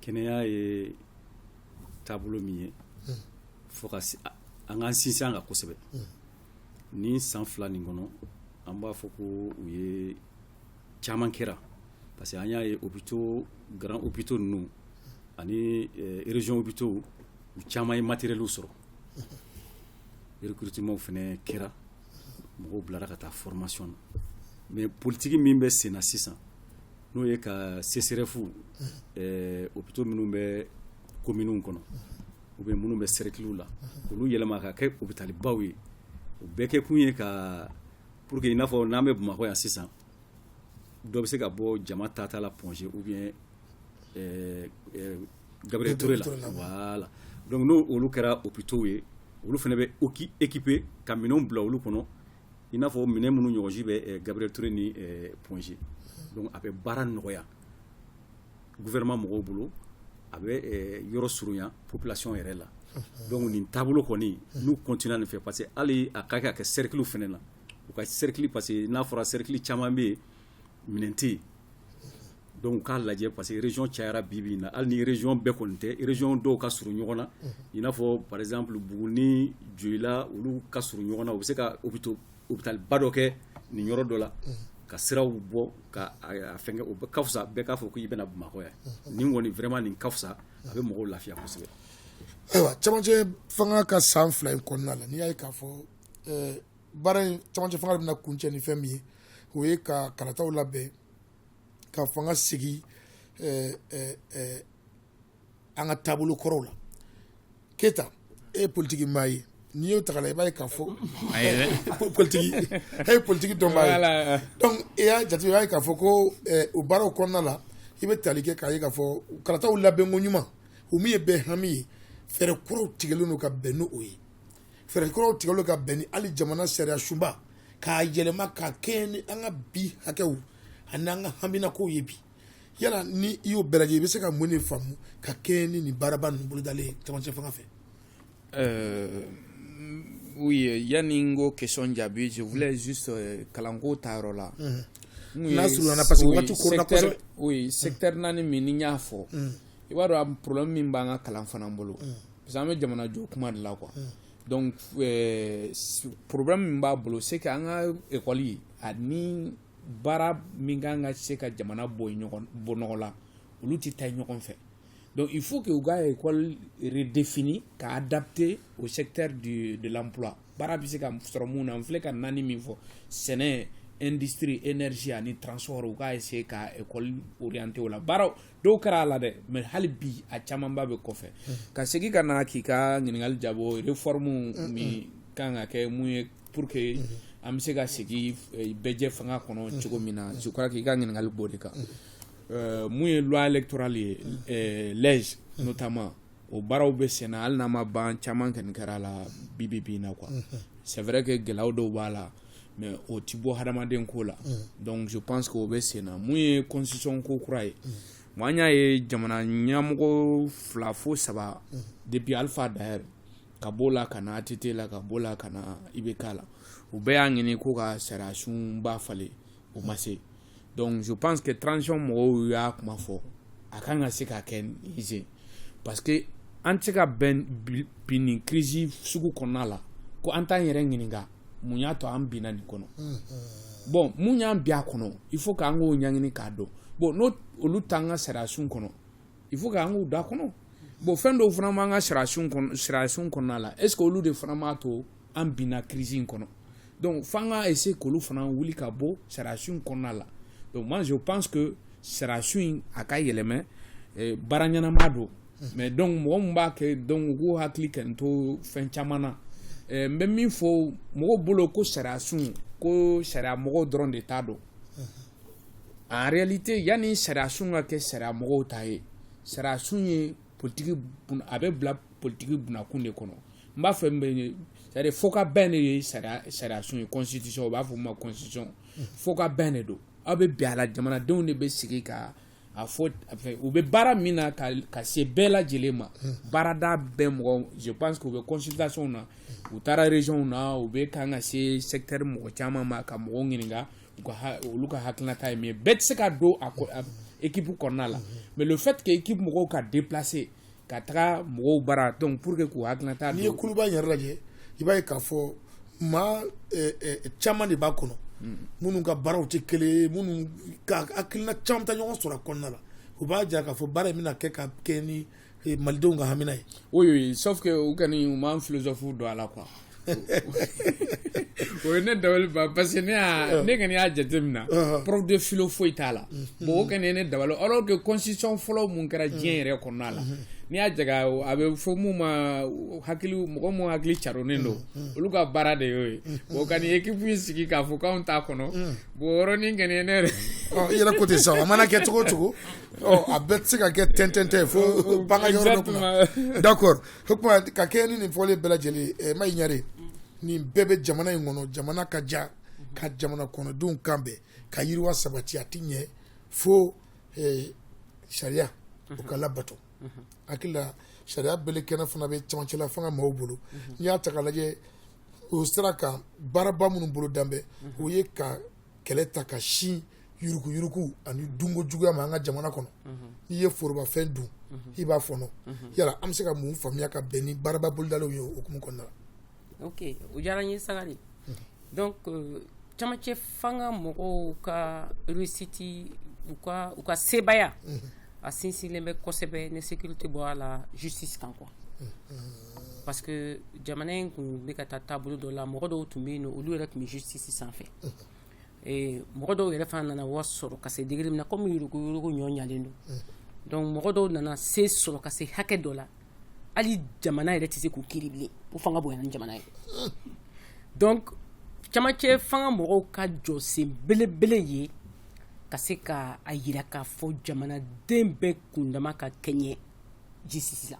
kɛnɛya ye taabolo min ye fo ka an k'an sinsin a kan kosɛbɛ ni san fila nin kɔnɔ an b'a fɔ ko u ye caman kɛra parce que an y'a ye hôpitaux grands hôpitaux ninnu ani eh, région hôpitaux u caman ye matériel sɔrɔ recrutement fana kɛra mɔgɔw bilara ka taa formation na mais politigi min bɛ senna sisan n'o ye ka CSRéf hôpitaux minnu bɛ communew kɔnɔ ou bien minnu bɛ sɛrɛkiliw la olu yɛlɛma ka kɛ hôpitalibaw ye o bɛɛ kɛ kun ye ka pour que i n'a fɔ n'an bɛ bamakɔ yan sisan dɔ bɛ se ka bɔ jama taata la Point G ou bien gabriel ture la voilà donc n'olu kɛra hôpitaux ye olu fana bɛ équi équipé ka minɛnw bila olu kɔnɔ i n'a fɔ minɛn minnu ɲɔgɔnji bɛ eh, gabriel ture ni eh, Point G donc a bɛ baara nɔgɔya gouvernement mɔgɔw bolo a bɛ eh, yɔrɔ surunya population yɛrɛ la donc nin taabolo kɔni n'u continuera nin fɛ parce que hali a ka kɛ a kɛ cercle fana na u ka cercle parce que n'a fɔra cercle caman bɛ yen minɛn tɛ yen donc u k'a lajɛ parce que région cayara bi bi in na hali ni région bɛɛ kɔni tɛ région dɔw ka surun ɲɔgɔn na i n'a fɔ par exemple Buguni Joyila olu ka surun ɲɔgɔn na u bɛ se ka hôpitaux hôpitalba dɔ kɛ nin yɔrɔ dɔ la ka siraw bɔ ka a fɛngɛ o ka fisa bɛɛ k'a fɔ k'i bɛ na Bamakɔ yan nin kɔni vraiment nin ka fisa a bɛ mɔgɔw lafiya kosɛbɛ. Ayiwa cɛmancɛ fanga ka san fila in kɔnɔna la n'i y'a ye k'a fɔ baara in camancɛ fanga bɛna kuncɛ ni fɛn min ye o ye ka kalataw labɛn ka fanga sigi eh, eh, eh, an ka taabolo kɔrɔw la Keyita e ye politiki maa ye n'i y'o ta ka lajɛ i b'a ye k'a fɔ A ye dɛ. po- politiki e ye politiki dɔnbaa ye Voilà. donc i y'a jate i b'a ye k'a fɔ ko eh, o baaraw kɔnɔna la i bɛ tali kɛ k'a ye k'a fɔ kalataw labɛnko ɲuman o min ye bɛɛ hami ye fɛɛrɛ kuraw tigɛlen don ka bɛn n'o ye fɛɛrɛ kuraw tigɛlen don ka bɛn ni hali jamana sariya sunba k'a yɛlɛma ka kɛɲɛ ni an ka bi hakɛw ani an ka haminakow ye bi yala ni i y'o bɛɛ lajɛ i bɛ se ka mun de faamu ka kɛɲɛ ni nin baaraba ninnu bolodalen ye camancɛ fanga fɛ euh, oui yanni n k'o question jaabi je voulais juste euh, kalanko ta yɔrɔ la n'a surunna parce que waati koronna kosɛbɛ oui secteur naani min ni n y'a fɔ i b'a dɔn problème min b'an ka kalan fana bolo parce que an bɛ jamana jɔ kuma de la quoi mm. donc euh, problème min b'a bolo c'est que an ka école ani baara min kan ka se ka jamana bɔ ɲɔgɔn bɔ nɔgɔ la olu tɛ taa ɲɔgɔn fɛ donc il faut que u ka école redéfinie ka adapter au secteur du, de l'emploi baara bɛ se ka sɔrɔ mun na n filɛ ka naani min fɔ sɛnɛ industrie énergie ani transport u ka essayer ka école orienter o la baaraw dɔw kɛra a la dɛ mais hali bi a camanba bɛ kɔfɛ ka segin ka na k'i ka ɲininkali jaabi réforme min kan ka kɛ mun ye pour que an bɛ se ka segin eh, bɛɛjɛ fanga kɔnɔ cogo min na je crois k'i ka ɲininkali b'o de kan Eh, mun ye loi électorale ye eh, l'AIGE notamment o baaraw bɛ sen na hali n'a ma ban caman kɔni kɛra a la bi bi bi in na quoi c'est vrai que gɛlɛyaw dɔw b'a la mais o ti bɔ hadamaden ko la donc je pense que o bɛ sen na mun ye constitution ko kura ye bon an y'a ye jamana ɲɛmɔgɔ fila fo saba depuis alpha ta yɛrɛ ka b'o la ka na ATT la ka b'o la ka na IBK la u bɛɛ y'a ɲini ko ka sariyasunba falen o ma se donc je pense que transition mɔgɔw y'a kuma fɔ a kan ka se ka kɛ nin parce que an tɛ se ka bin bi nin crise sugu kɔnɔna la ko an t'an yɛrɛ ɲininka mun y'a to an binna nin kɔnɔ bon mun y'an bin a kɔnɔ il faut k'an k'o ɲɛɲini k'a dɔn bon n'o olu t'an ka sariyasun kɔnɔ il faut k'an k'u da kɔnɔ bon fɛn dɔw fana b'an ka sariyasun kɔnɔ sariyasun kɔnɔna la est ce que olu de fana b'a to an binna crise in kɔnɔ donc f'an ka essayer k'olu fana wuli ka bɔ sariyasun in kɔnɔna la donc moi je pense que sariyasun in a ka yɛlɛmɛ baara ɲɛnama don mais donc mɔgɔ min b'a kɛ donc o hakili ka to fɛn caman na n bɛ min fɔ mɔgɔw bolo ko sariyasun ko sariya mɔgɔw dɔrɔn de t'a dɔn en réalité yanni sariyasun ka kɛ sariya mɔgɔw ta ye sariyasun ye politiki a bɛ bila politiki bunakun de kɔnɔ n b'a fɛ c'est-à-dire fɔ ka bɛn de ye sariyasun ye constitution u b'a fɔ ma constitution fɔ ka bɛn de don aw bɛ bɛn a la jamanadenw de bɛ sigi ka a fɔ u bɛ baara min na ka se bɛɛ lajɛlen ma baarada bɛɛ mɔgɔ je pense que u bɛ consultationw na u taara régionw na u bɛ kan ka se secteur mɔgɔ caman ma ka mɔgɔw ɲininka olu ka hakilinata ye min ye bɛɛ tɛ se ka don a équipe kɔnɔna la mais le fait que équipe mɔgɔw ka déplacer ka taga mɔgɔw bara donc pour que k'u hakilina ta n'i ye kuluba yɛrɛ lajɛ i b'a ye k'a fɔ maa eh, eh, caman de b'a kɔnɔ hmm. minnu ka baaraw tɛ kelen ye minnu ka hakilina caman ta ɲɔgɔn sɔrɔ a kɔnɔna la o b'a jira k'a fɔ baara in bɛna kɛ ka kɛ ni malidenw ka hamina ye oui sauf que u kɔni u m'an philosophe don a la quoi o ye ne dabali ban parce que ne ne kɔni y'a jateminɛ prof de philo foyi t'a la bon o kɔni ye ne dabali alors que constitution fɔlɔ min kɛra diɲɛ yɛrɛ kɔnɔna la n'i y'a jaga a bɛ fɔ min ma hakili mɔgɔ minnu hakili caronnen don olu ka baara de y'o ye o ka nin équipe sigi k'a fɔ k'anw t'a kɔnɔ bon o yɔrɔnin kɔni ne yɛrɛ yɛrɛ ko ten sa a mana kɛ cogo o cogo a bɛɛ tɛ se ka kɛ tɛntɛntɛn fo bagayɔkɔ d'accord o tuma ka kɛ ni nin fɔlen bɛɛ lajɛlen mayi ɲare nin bɛɛ bɛ jamana in kɔnɔ jamana ka ja ka jamana kɔnɔdenw kan bɛn ka yiriwa sabati a tɛ ɲɛ fo sariyaw ka labato hakili la sariya bɛɛlɛ kɛnɛ fana bɛ camancɛla fanga maaw bolo n'i y'a ta k'a lajɛ o sira kan baaraba minnu bolo danbe o ye ka kɛlɛ ta ka sin yuruguyurugu ani dunko juguya ma an ka jamana kɔnɔ n'i ye forobafɛn dun i b'a fɔnɔ yala an bɛ se ka mun faamuya ka bɛn ni baaraba bolodalenw ye o hukumu kɔnɔna la ok o diyara n ye Sagari donc euh, camancɛ fanga mɔgɔw ka réussite u ka u ka sebaaya a sinsinlen bɛ kosɛbɛ ni sécurité bɔra a la justice kan quoi parce que jamana in tun bɛ ka taa taabolo dɔ la mɔgɔ dɔw tun bɛ yen nɔ olu yɛrɛ tun bɛ justice sanfɛ mɔgɔ dɔw yɛrɛ fana nana wari sɔrɔ ka se degré min na kɔmi yuruguyurugu nɔgɔyalen don donc mɔgɔ dɔw nana se sɔrɔ ka se hakɛ dɔ la hali jamana yɛrɛ tɛ se k'u kiri bilen u fanga bonyana ni jamana ye donc camancɛ fanga mɔgɔw ka jɔsen belebele ye ka se ka a jira k'a fɔ jamanaden bɛɛ kundama ka kɛɲɛ justice la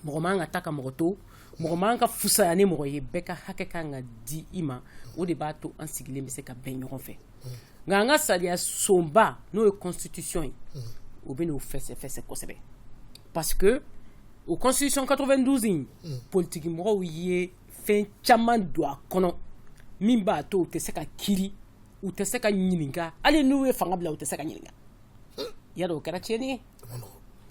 mɔgɔ man ka ta ka mɔgɔ to mɔgɔ man ka fusaya ni mɔgɔ ye bɛɛ ka hakɛ kan ka di i ma o de b'a to an sigilen bɛ se ka bɛn ɲɔgɔn fɛ nka an ka sariyasunba n'o ye constitution ye o bɛn'o fɛsɛfɛsɛ kosɛbɛ parce que o constitution 92 in politiki mɔgɔw ye fɛn caman don a kɔnɔ min b'a to u tɛ se ka kiri u tɛ se ka ɲininka hali n'u ye fanga bila u tɛ se ka ɲininka yadɔ o kɛra tiɲɛni ye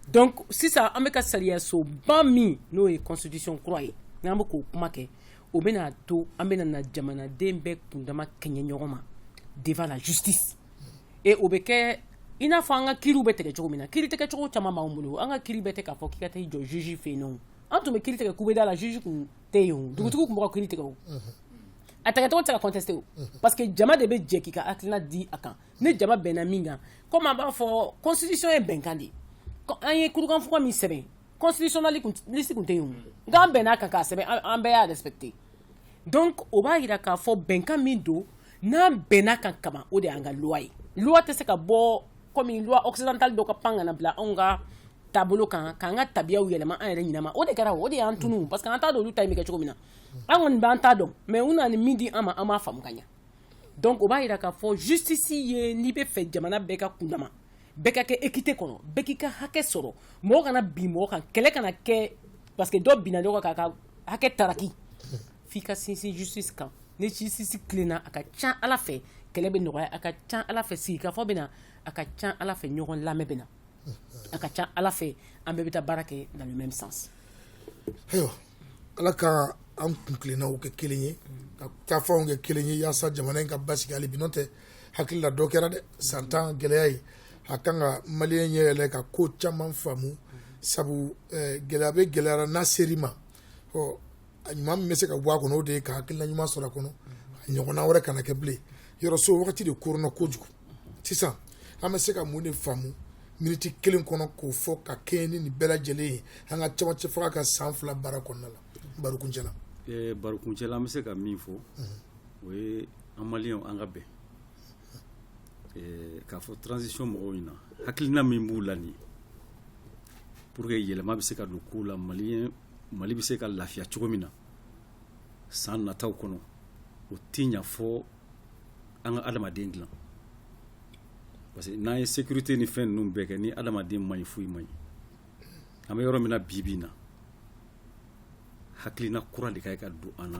donc sisan an bɛ ka sariyasunba min n'o ye constitution kura ye n'an bɛ k'o kuma kɛ o bɛna a to an bɛna na jamanaden bɛɛ kundama kɛɲɛ ɲɔgɔn ma devant la justice ee o bɛ kɛ i n'a fɔ an ka kiriw bɛ tigɛ cogo min na kiri tigɛcogo caman b'an bolo an ka kiri bɛɛ tɛ k'a fɔ k'i ka taa i jɔ juge fɛ yen an tun bɛ kiri tigɛ kubeda la juge tun tɛ yen dugutigi tun bɛ ka kiri tigɛ a tigɛcogo tɛ se ka contester parce que jama de bɛ jɛ k'i ka hakilina di a kan ni jama bɛnna min kan komi an b'a fɔ constitution ye bɛnkan de ye an ye kurukanfuga min sɛbɛn constitutionnaliste tun tɛ yen nka an bɛnna a kan k'a sɛbɛn an bɛɛ y'a respecté donc o b'a jira k'a fɔ bɛnkan min don n'an bɛnna a kan kaban o de y'an ka loi ye loi tɛ se ka bɔ komi loi occidentale dɔ ka pan ka na bila anw ka taabolo kan k'an ka tabiyaw yɛlɛma an yɛrɛ ɲinama o de kɛra o de y'an tunu parce que an t'a dɔn olu ta in bɛ kɛ cogo min na an kɔni b'an ta dɔn mais u nana ni min di an ma an m'a faamu ka ɲɛ donc o b'a jira k'a fɔ justice ye n'i b'a fɛ jamana bɛɛ ka kundama bɛɛ ka kɛ équité kɔnɔ bɛɛ k'i ka hakɛ sɔrɔ mɔgɔ kana bin mɔgɔ kan kɛlɛ kana kɛ parce que dɔ binna dɔ kan k'a ka hakɛ taraki f'i ka sinsin justice kan ni justice tilenna a ka ca a la fɛ kɛlɛ bɛ nɔgɔya a ka ca a la fɛ sigikafɔ bɛ na a ka ca a la fɛ ɲɔgɔn lamɛn bɛ na a ka ca a la fɛ an bɛɛ bɛ taa baara kɛ dans le même sens ala ka an kuntilennaw kɛ kelen ye ka taafanw kɛ kelen ye yaasa jamana in ka basigi hali bi n'o tɛ hakili la dɔ kɛra dɛ san tan gɛlɛya ye a kan ka maliyɛn ɲɛ yɛlɛ ka ko caman faamu sabu eh, gɛlɛya bɛ gɛlɛyara n'a ser'i ma ɔ a ɲuman min bɛ se ka bɔ a kɔnɔ o de ye ka hakilina ɲuman sɔrɔ a kɔnɔ a ɲɔgɔnna wɛrɛ kana kɛ bilen yɔrɔso wagati de koronna kojugu sisan an bɛ se ka mun de faamu miniti kelen kɔnɔ k'o fɔ ka kɛɲɛ ni nin bɛɛ lajɛlen ye an ka camancɛ fanga ka san fila baara kɔnɔna la barokuncɛ la eh, barokuncɛ la an bɛ se ka min fɔ o ye an maliyɛnw an ka bɛn eh, k'a fɔ transition mɔgɔw ɲɛna hakilina min b'u la nin pour que yɛlɛma bɛ se ka don kow la maliyɛn mali bɛ se ka lafiya cogo min na san nataw kɔnɔ o tɛ ɲa fɔ an ka adamaden dilan parce que n'an ye sécurité ni fɛn ninnu bɛɛ kɛ ni adamaden man ɲi foyi man ɲi an bɛ yɔrɔ min na bi bi in na hakilina kura de ka ye ka don an na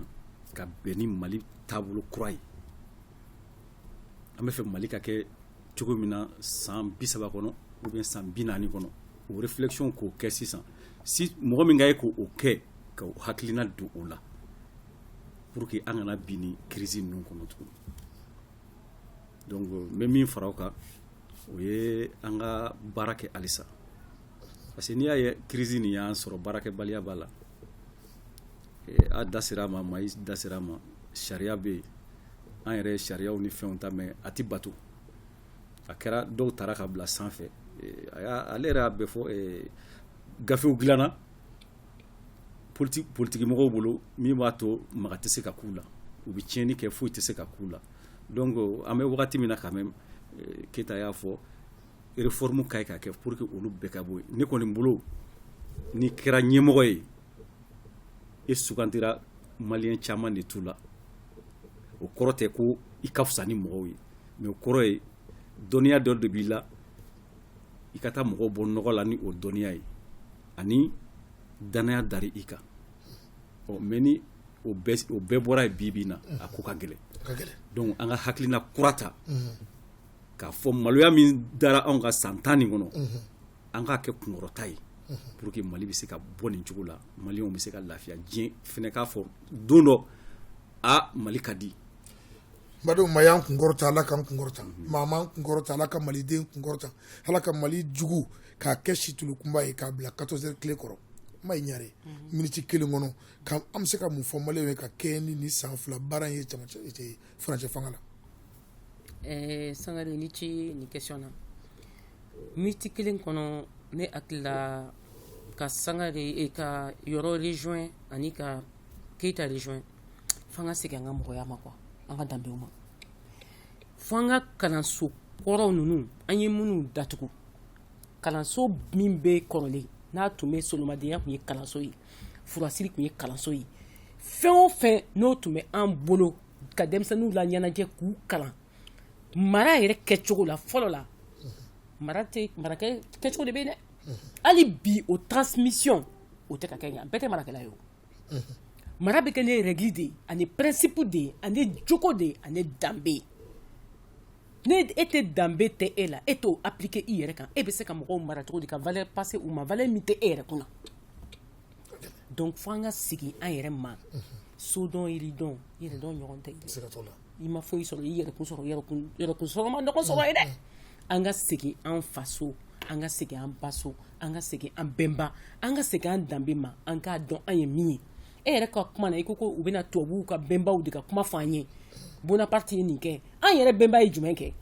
ka bɛn ni mali taabolo kura ye an bɛ fɛ mali ka kɛ cogo min na san bi saba kɔnɔ ou bien san bi naani kɔnɔ o réflexion k'o kɛ sisan si mɔgɔ min ka ye k'o kɛ ka hakilina don o la pour que an kana bin ni crise ninnu kɔnɔ tugun donc n bɛ min fara o kan o ye an ka baara kɛ halisa parce que n'i y'a ye crise nin y'an sɔrɔ baarakɛbaliya b'a la eh, a da sera a ma mayi da sera a ma sariya bɛ yen an yɛrɛ ye sariyaw ni fɛnw ta mais a tɛ bato a kɛra dɔw tara ka bila sanfɛ eh, a y'a ale yɛrɛ y'a bɛɛ fɔ eh, gafew dilanna politigimɔgɔw bolo min b'a to maga tɛ se ka k'u la u bɛ tiɲɛni kɛ foyi tɛ se ka k'u la donc an bɛ wagati min na quand même eh, keyita y'a fɔ réforme ka ye ka kɛ pour que olu bɛɛ ka bɔ yen ne kɔni bolo n'i kɛra ɲɛmɔgɔ ye e sugantira maliyɛn caman de t'u la o kɔrɔ tɛ ko i ka fisa ni mɔgɔw ye mais o kɔrɔ ye dɔnniya dɔ de b'i la i ka taa mɔgɔw bɔ nɔgɔ la ni o dɔnniya ye ani danaya dara i kan ɔ mais ni o bɛɛ bɔra yen bibi na a ko ka gɛlɛn donc an ka hakilina kura ta k'a fɔ maloya min dara anw kan san tan nin kɔnɔ an k'a kɛ kunkɔrɔta ye pour que mali bɛ se ka bɔ nin cogo la maliyɛnw bɛ se ka lafiya diɲɛ fɛnɛ k'a fɔ don dɔ a mali ka di badenw ma y'an kun kɔrɔta ala k'an kun kɔrɔta maa m'an kun kɔrɔta ala ka maliden kun kɔrɔta ala ka mali jugu k'a kɛ situlu kunba ye k'a bila quatorze heures tile kɔrɔ ma ɲare miniti kelen kɔnɔ an bɛ se ka mun fɔ maliyɛnw ye ka kɛɲɛ ni san fila baara ye furancɛ fanga la ɛɛ sangare ni ce nin question na miniti kelen kɔnɔ ne hakilila ka sangare ka yɔrɔ rejoint ani ka keyita rejoint fo an ka segin an ka mɔgɔya ma quoi an ka danbew ma fo an ka kalanso kɔrɔw ninnu an ye minnu datugu kalanso min bɛ kɔrɔlen n'a tun bɛ solomadenya tun ye kalanso ye furasiri tun ye kalanso ye fɛn o fɛn n'o tun bɛ an bolo ka denmisɛnninw laɲɛnajɛ k'u kalan mara yɛrɛ kɛcogo la fɔlɔ la mara tɛ marakɛ kɛcogo de bɛ yen dɛ hali bi o transmission o tɛ ka kɛ yan bɛɛ tɛ marakɛla ye o mara bɛ kɛ ni règle de ye ani principe de ye ani jogo de ye ani danbe n'e tɛ danbe tɛ e la e t'o appliquer i yɛrɛ kan e bɛ se ka mɔgɔw mara cogo di ka valeur passer u ma valeur min tɛ e yɛrɛ kunna donc fo an ka segin an yɛrɛ ma sodɔn yiridɔn yɛrɛdɔn ɲɔgɔn tɛ i ma foyi sɔrɔ i yɛrɛkun sɔrɔ yɛrɛkun yɛrɛkun sɔrɔ ma ɲɔgɔn sɔrɔ ye dɛ an ka segin an faso an ka segin an baso an ka segin an bɛnba an ka segin an danbe ma an k'a dɔn an ye min ye e yɛrɛ ka kuma na i ko ko u bɛna tubabuw ka bɛnbaw de ka kuma fɔ an ye bonaparte ye nin kɛ an yɛrɛ bɛnba ye jumɛn kɛ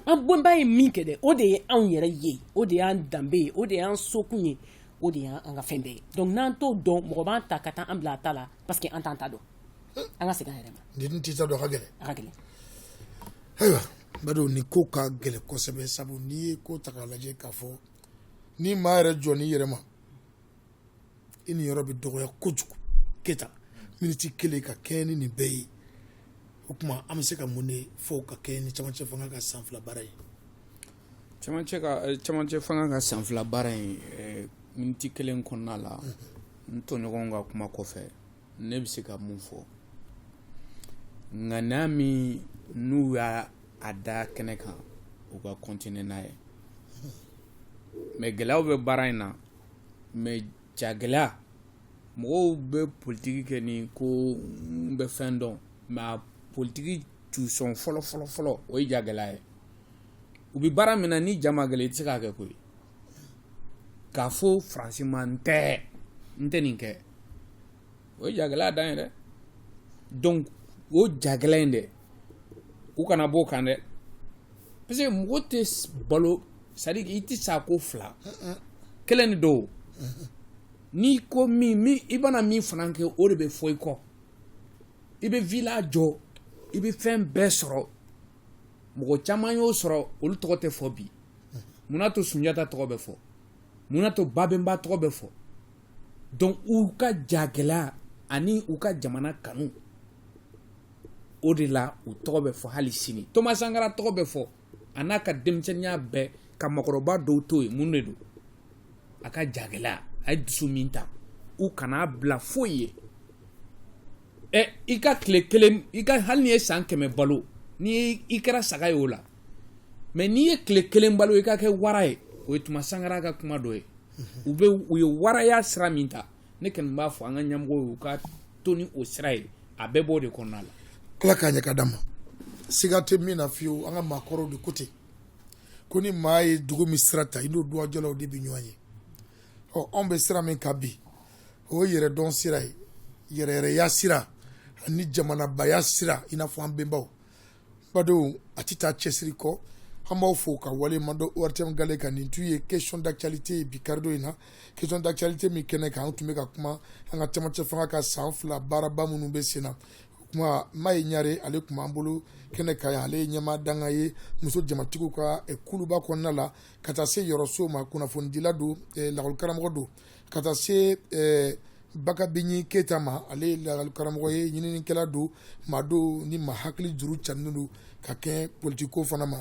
an bɛnba ye min kɛ dɛ o de ye anw yɛrɛ ye o de y'an danbe ye o de y'an sokun ye o de y'an ka fɛn bɛɛ ye donc n'an t'o dɔn mɔgɔ b'an ta ka taa an bila a ta la parce que an t'an ta dɔn an ka segin an yɛrɛ ma n'i dun t'i ta dɔn a ka gɛlɛn a ka gɛlɛn ayiwa b'a dɔn nin ko ka gɛlɛ kosɛbɛ sabu n'i ye ko ta k'a lajɛ k'a fɔ ni maa yɛrɛ jɔ n'i yɛrɛ ma i niyɔrɔ bɛ dɔgɔya kojugu keyita miniti kelen ka kɛɲɛ ni nin bɛɛ ye o tuma an bɛ se ka mun de fɔ ka kɛɲɛ ni camancɛ fanga ka san fila baara ye camancɛ ka eh, camancɛ fanga ka san fila baara in eh, miniti kelen kɔnɔna la n tɔɲɔgɔnw ka kuma kɔfɛ ne bɛ se ka mun fɔ ŋaniya min n'u y'a da kɛnɛ kan u ka continuer n'a ye mais gɛlɛyaw bɛ baara in na mais jagɛlɛya mɔgɔw bɛ politiki kɛ ni ko n bɛ fɛn dɔn mais a politiki tusɔn fɔlɔ fɔlɔ fɔlɔ o ye jagɛlɛya ye u bɛ baara min na n'i ja ma gɛlɛya i tɛ se k'a kɛ koyi k'a fɔ faransi ma n tɛ n tɛ nin kɛ o ye jagɛlɛya dan ye dɛ donc o jagɛlɛya in dɛ u kana b'o kan dɛ parce que mɔgɔ tɛ balo c'est à dire i tɛ sa ko fila kelen de don n'i ko min min i bɛna min fana kɛ o de bɛ fɔ i kɔ i bɛ villa jɔ i bɛ fɛn bɛɛ sɔrɔ mɔgɔ caman y'o sɔrɔ olu tɔgɔ tɛ fɔ bi munna to sunjata tɔgɔ bɛ fɔ munna to babenba tɔgɔ bɛ fɔ donc u ka jagɛlɛya ani u ka jamana kanu o de la u tɔgɔ bɛ fɔ hali sini thomas sankara tɔgɔ bɛ fɔ a n'a ka denmisɛnninya bɛɛ ka maakɔrɔba dɔw to yen mun de don a ka jagɛlɛya a ye dusu min ta u kan'a bila foyi ye ɛ i ka tile kelen i ka hali n'i ye san kɛmɛ balo ni i kɛra saga ye o la mais n'i ye tile kelen balo i ka kɛ wara ye o ye thomas sankara ka kuma dɔ ye u bɛ u ye waraya sira min ta ne kɔni b'a fɔ an ka ɲɛmɔgɔw ye u ka to ni o sira ye a bɛɛ b'o de kɔnɔna la ala k'a ɲɛ ka d'an ma siga tɛ min na fiyewu an ka maakɔrɔw de ko ten ko ni maa ye dugu min sira ta i n'o duwajɔlaw de bɛ ɲɔgɔn ye ɔ anw bɛ sira min kan bi o ye yɛrɛdɔn sira ye yɛrɛyɛrɛya sira ani jamanabaya sira i n'a fɔ an bɛnbaw badenw a tɛ taa cɛsiri kɔ an b'aw fo ka waleɲuman dɔn ortm gale kan nin tun ye question d'actualité ye bi karidon in na question d'actualité min kɛnɛ kan an tun bɛ ka kuma an ka camancɛ fanga ka san fila baaraba minnu bɛ sen na kuma maye ɲare ale tun b'an bolo kɛnɛ kan ale ye ɲɛmaa dankan ye muso jamatigiw ka eh, kuluba kɔnɔna la ka taa se yɔrɔ so ma kunnafonidila don eh, lakɔlikaramɔgɔ don ka taa se eh, bakabinyi keyita ma ale ye lakɔlikaramɔgɔ ye ɲininikɛla don maa don ni maa hakili juru canin don ka kɛ politikiko fana ma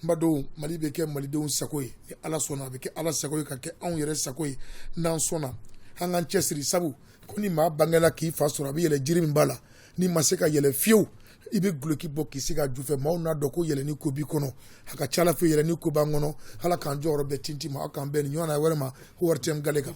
badenw mali bɛ kɛ malidenw sago ye ni ala sɔnna a bɛ kɛ ala sago ye ka kɛ anw yɛrɛ sago ye n'an sɔnna an k'an cɛsiri sabu ko ni maa bangela k'i fa sɔrɔ a bɛ yɛlɛ jiri min bala n'i ma se ka yɛlɛ fiyewu i bɛ guloki bɔ k'i sigi a ju fɛ maaw n'a dɔn ko yɛlɛni ko b'i kɔnɔ a ka ca ala fɛ yɛlɛni ko b'an kɔnɔ ala k'an jɔyɔrɔ bɛɛ tinti ma aw k'an bɛn nin ɲɔgɔnna wɛrɛ ma ortm gale kan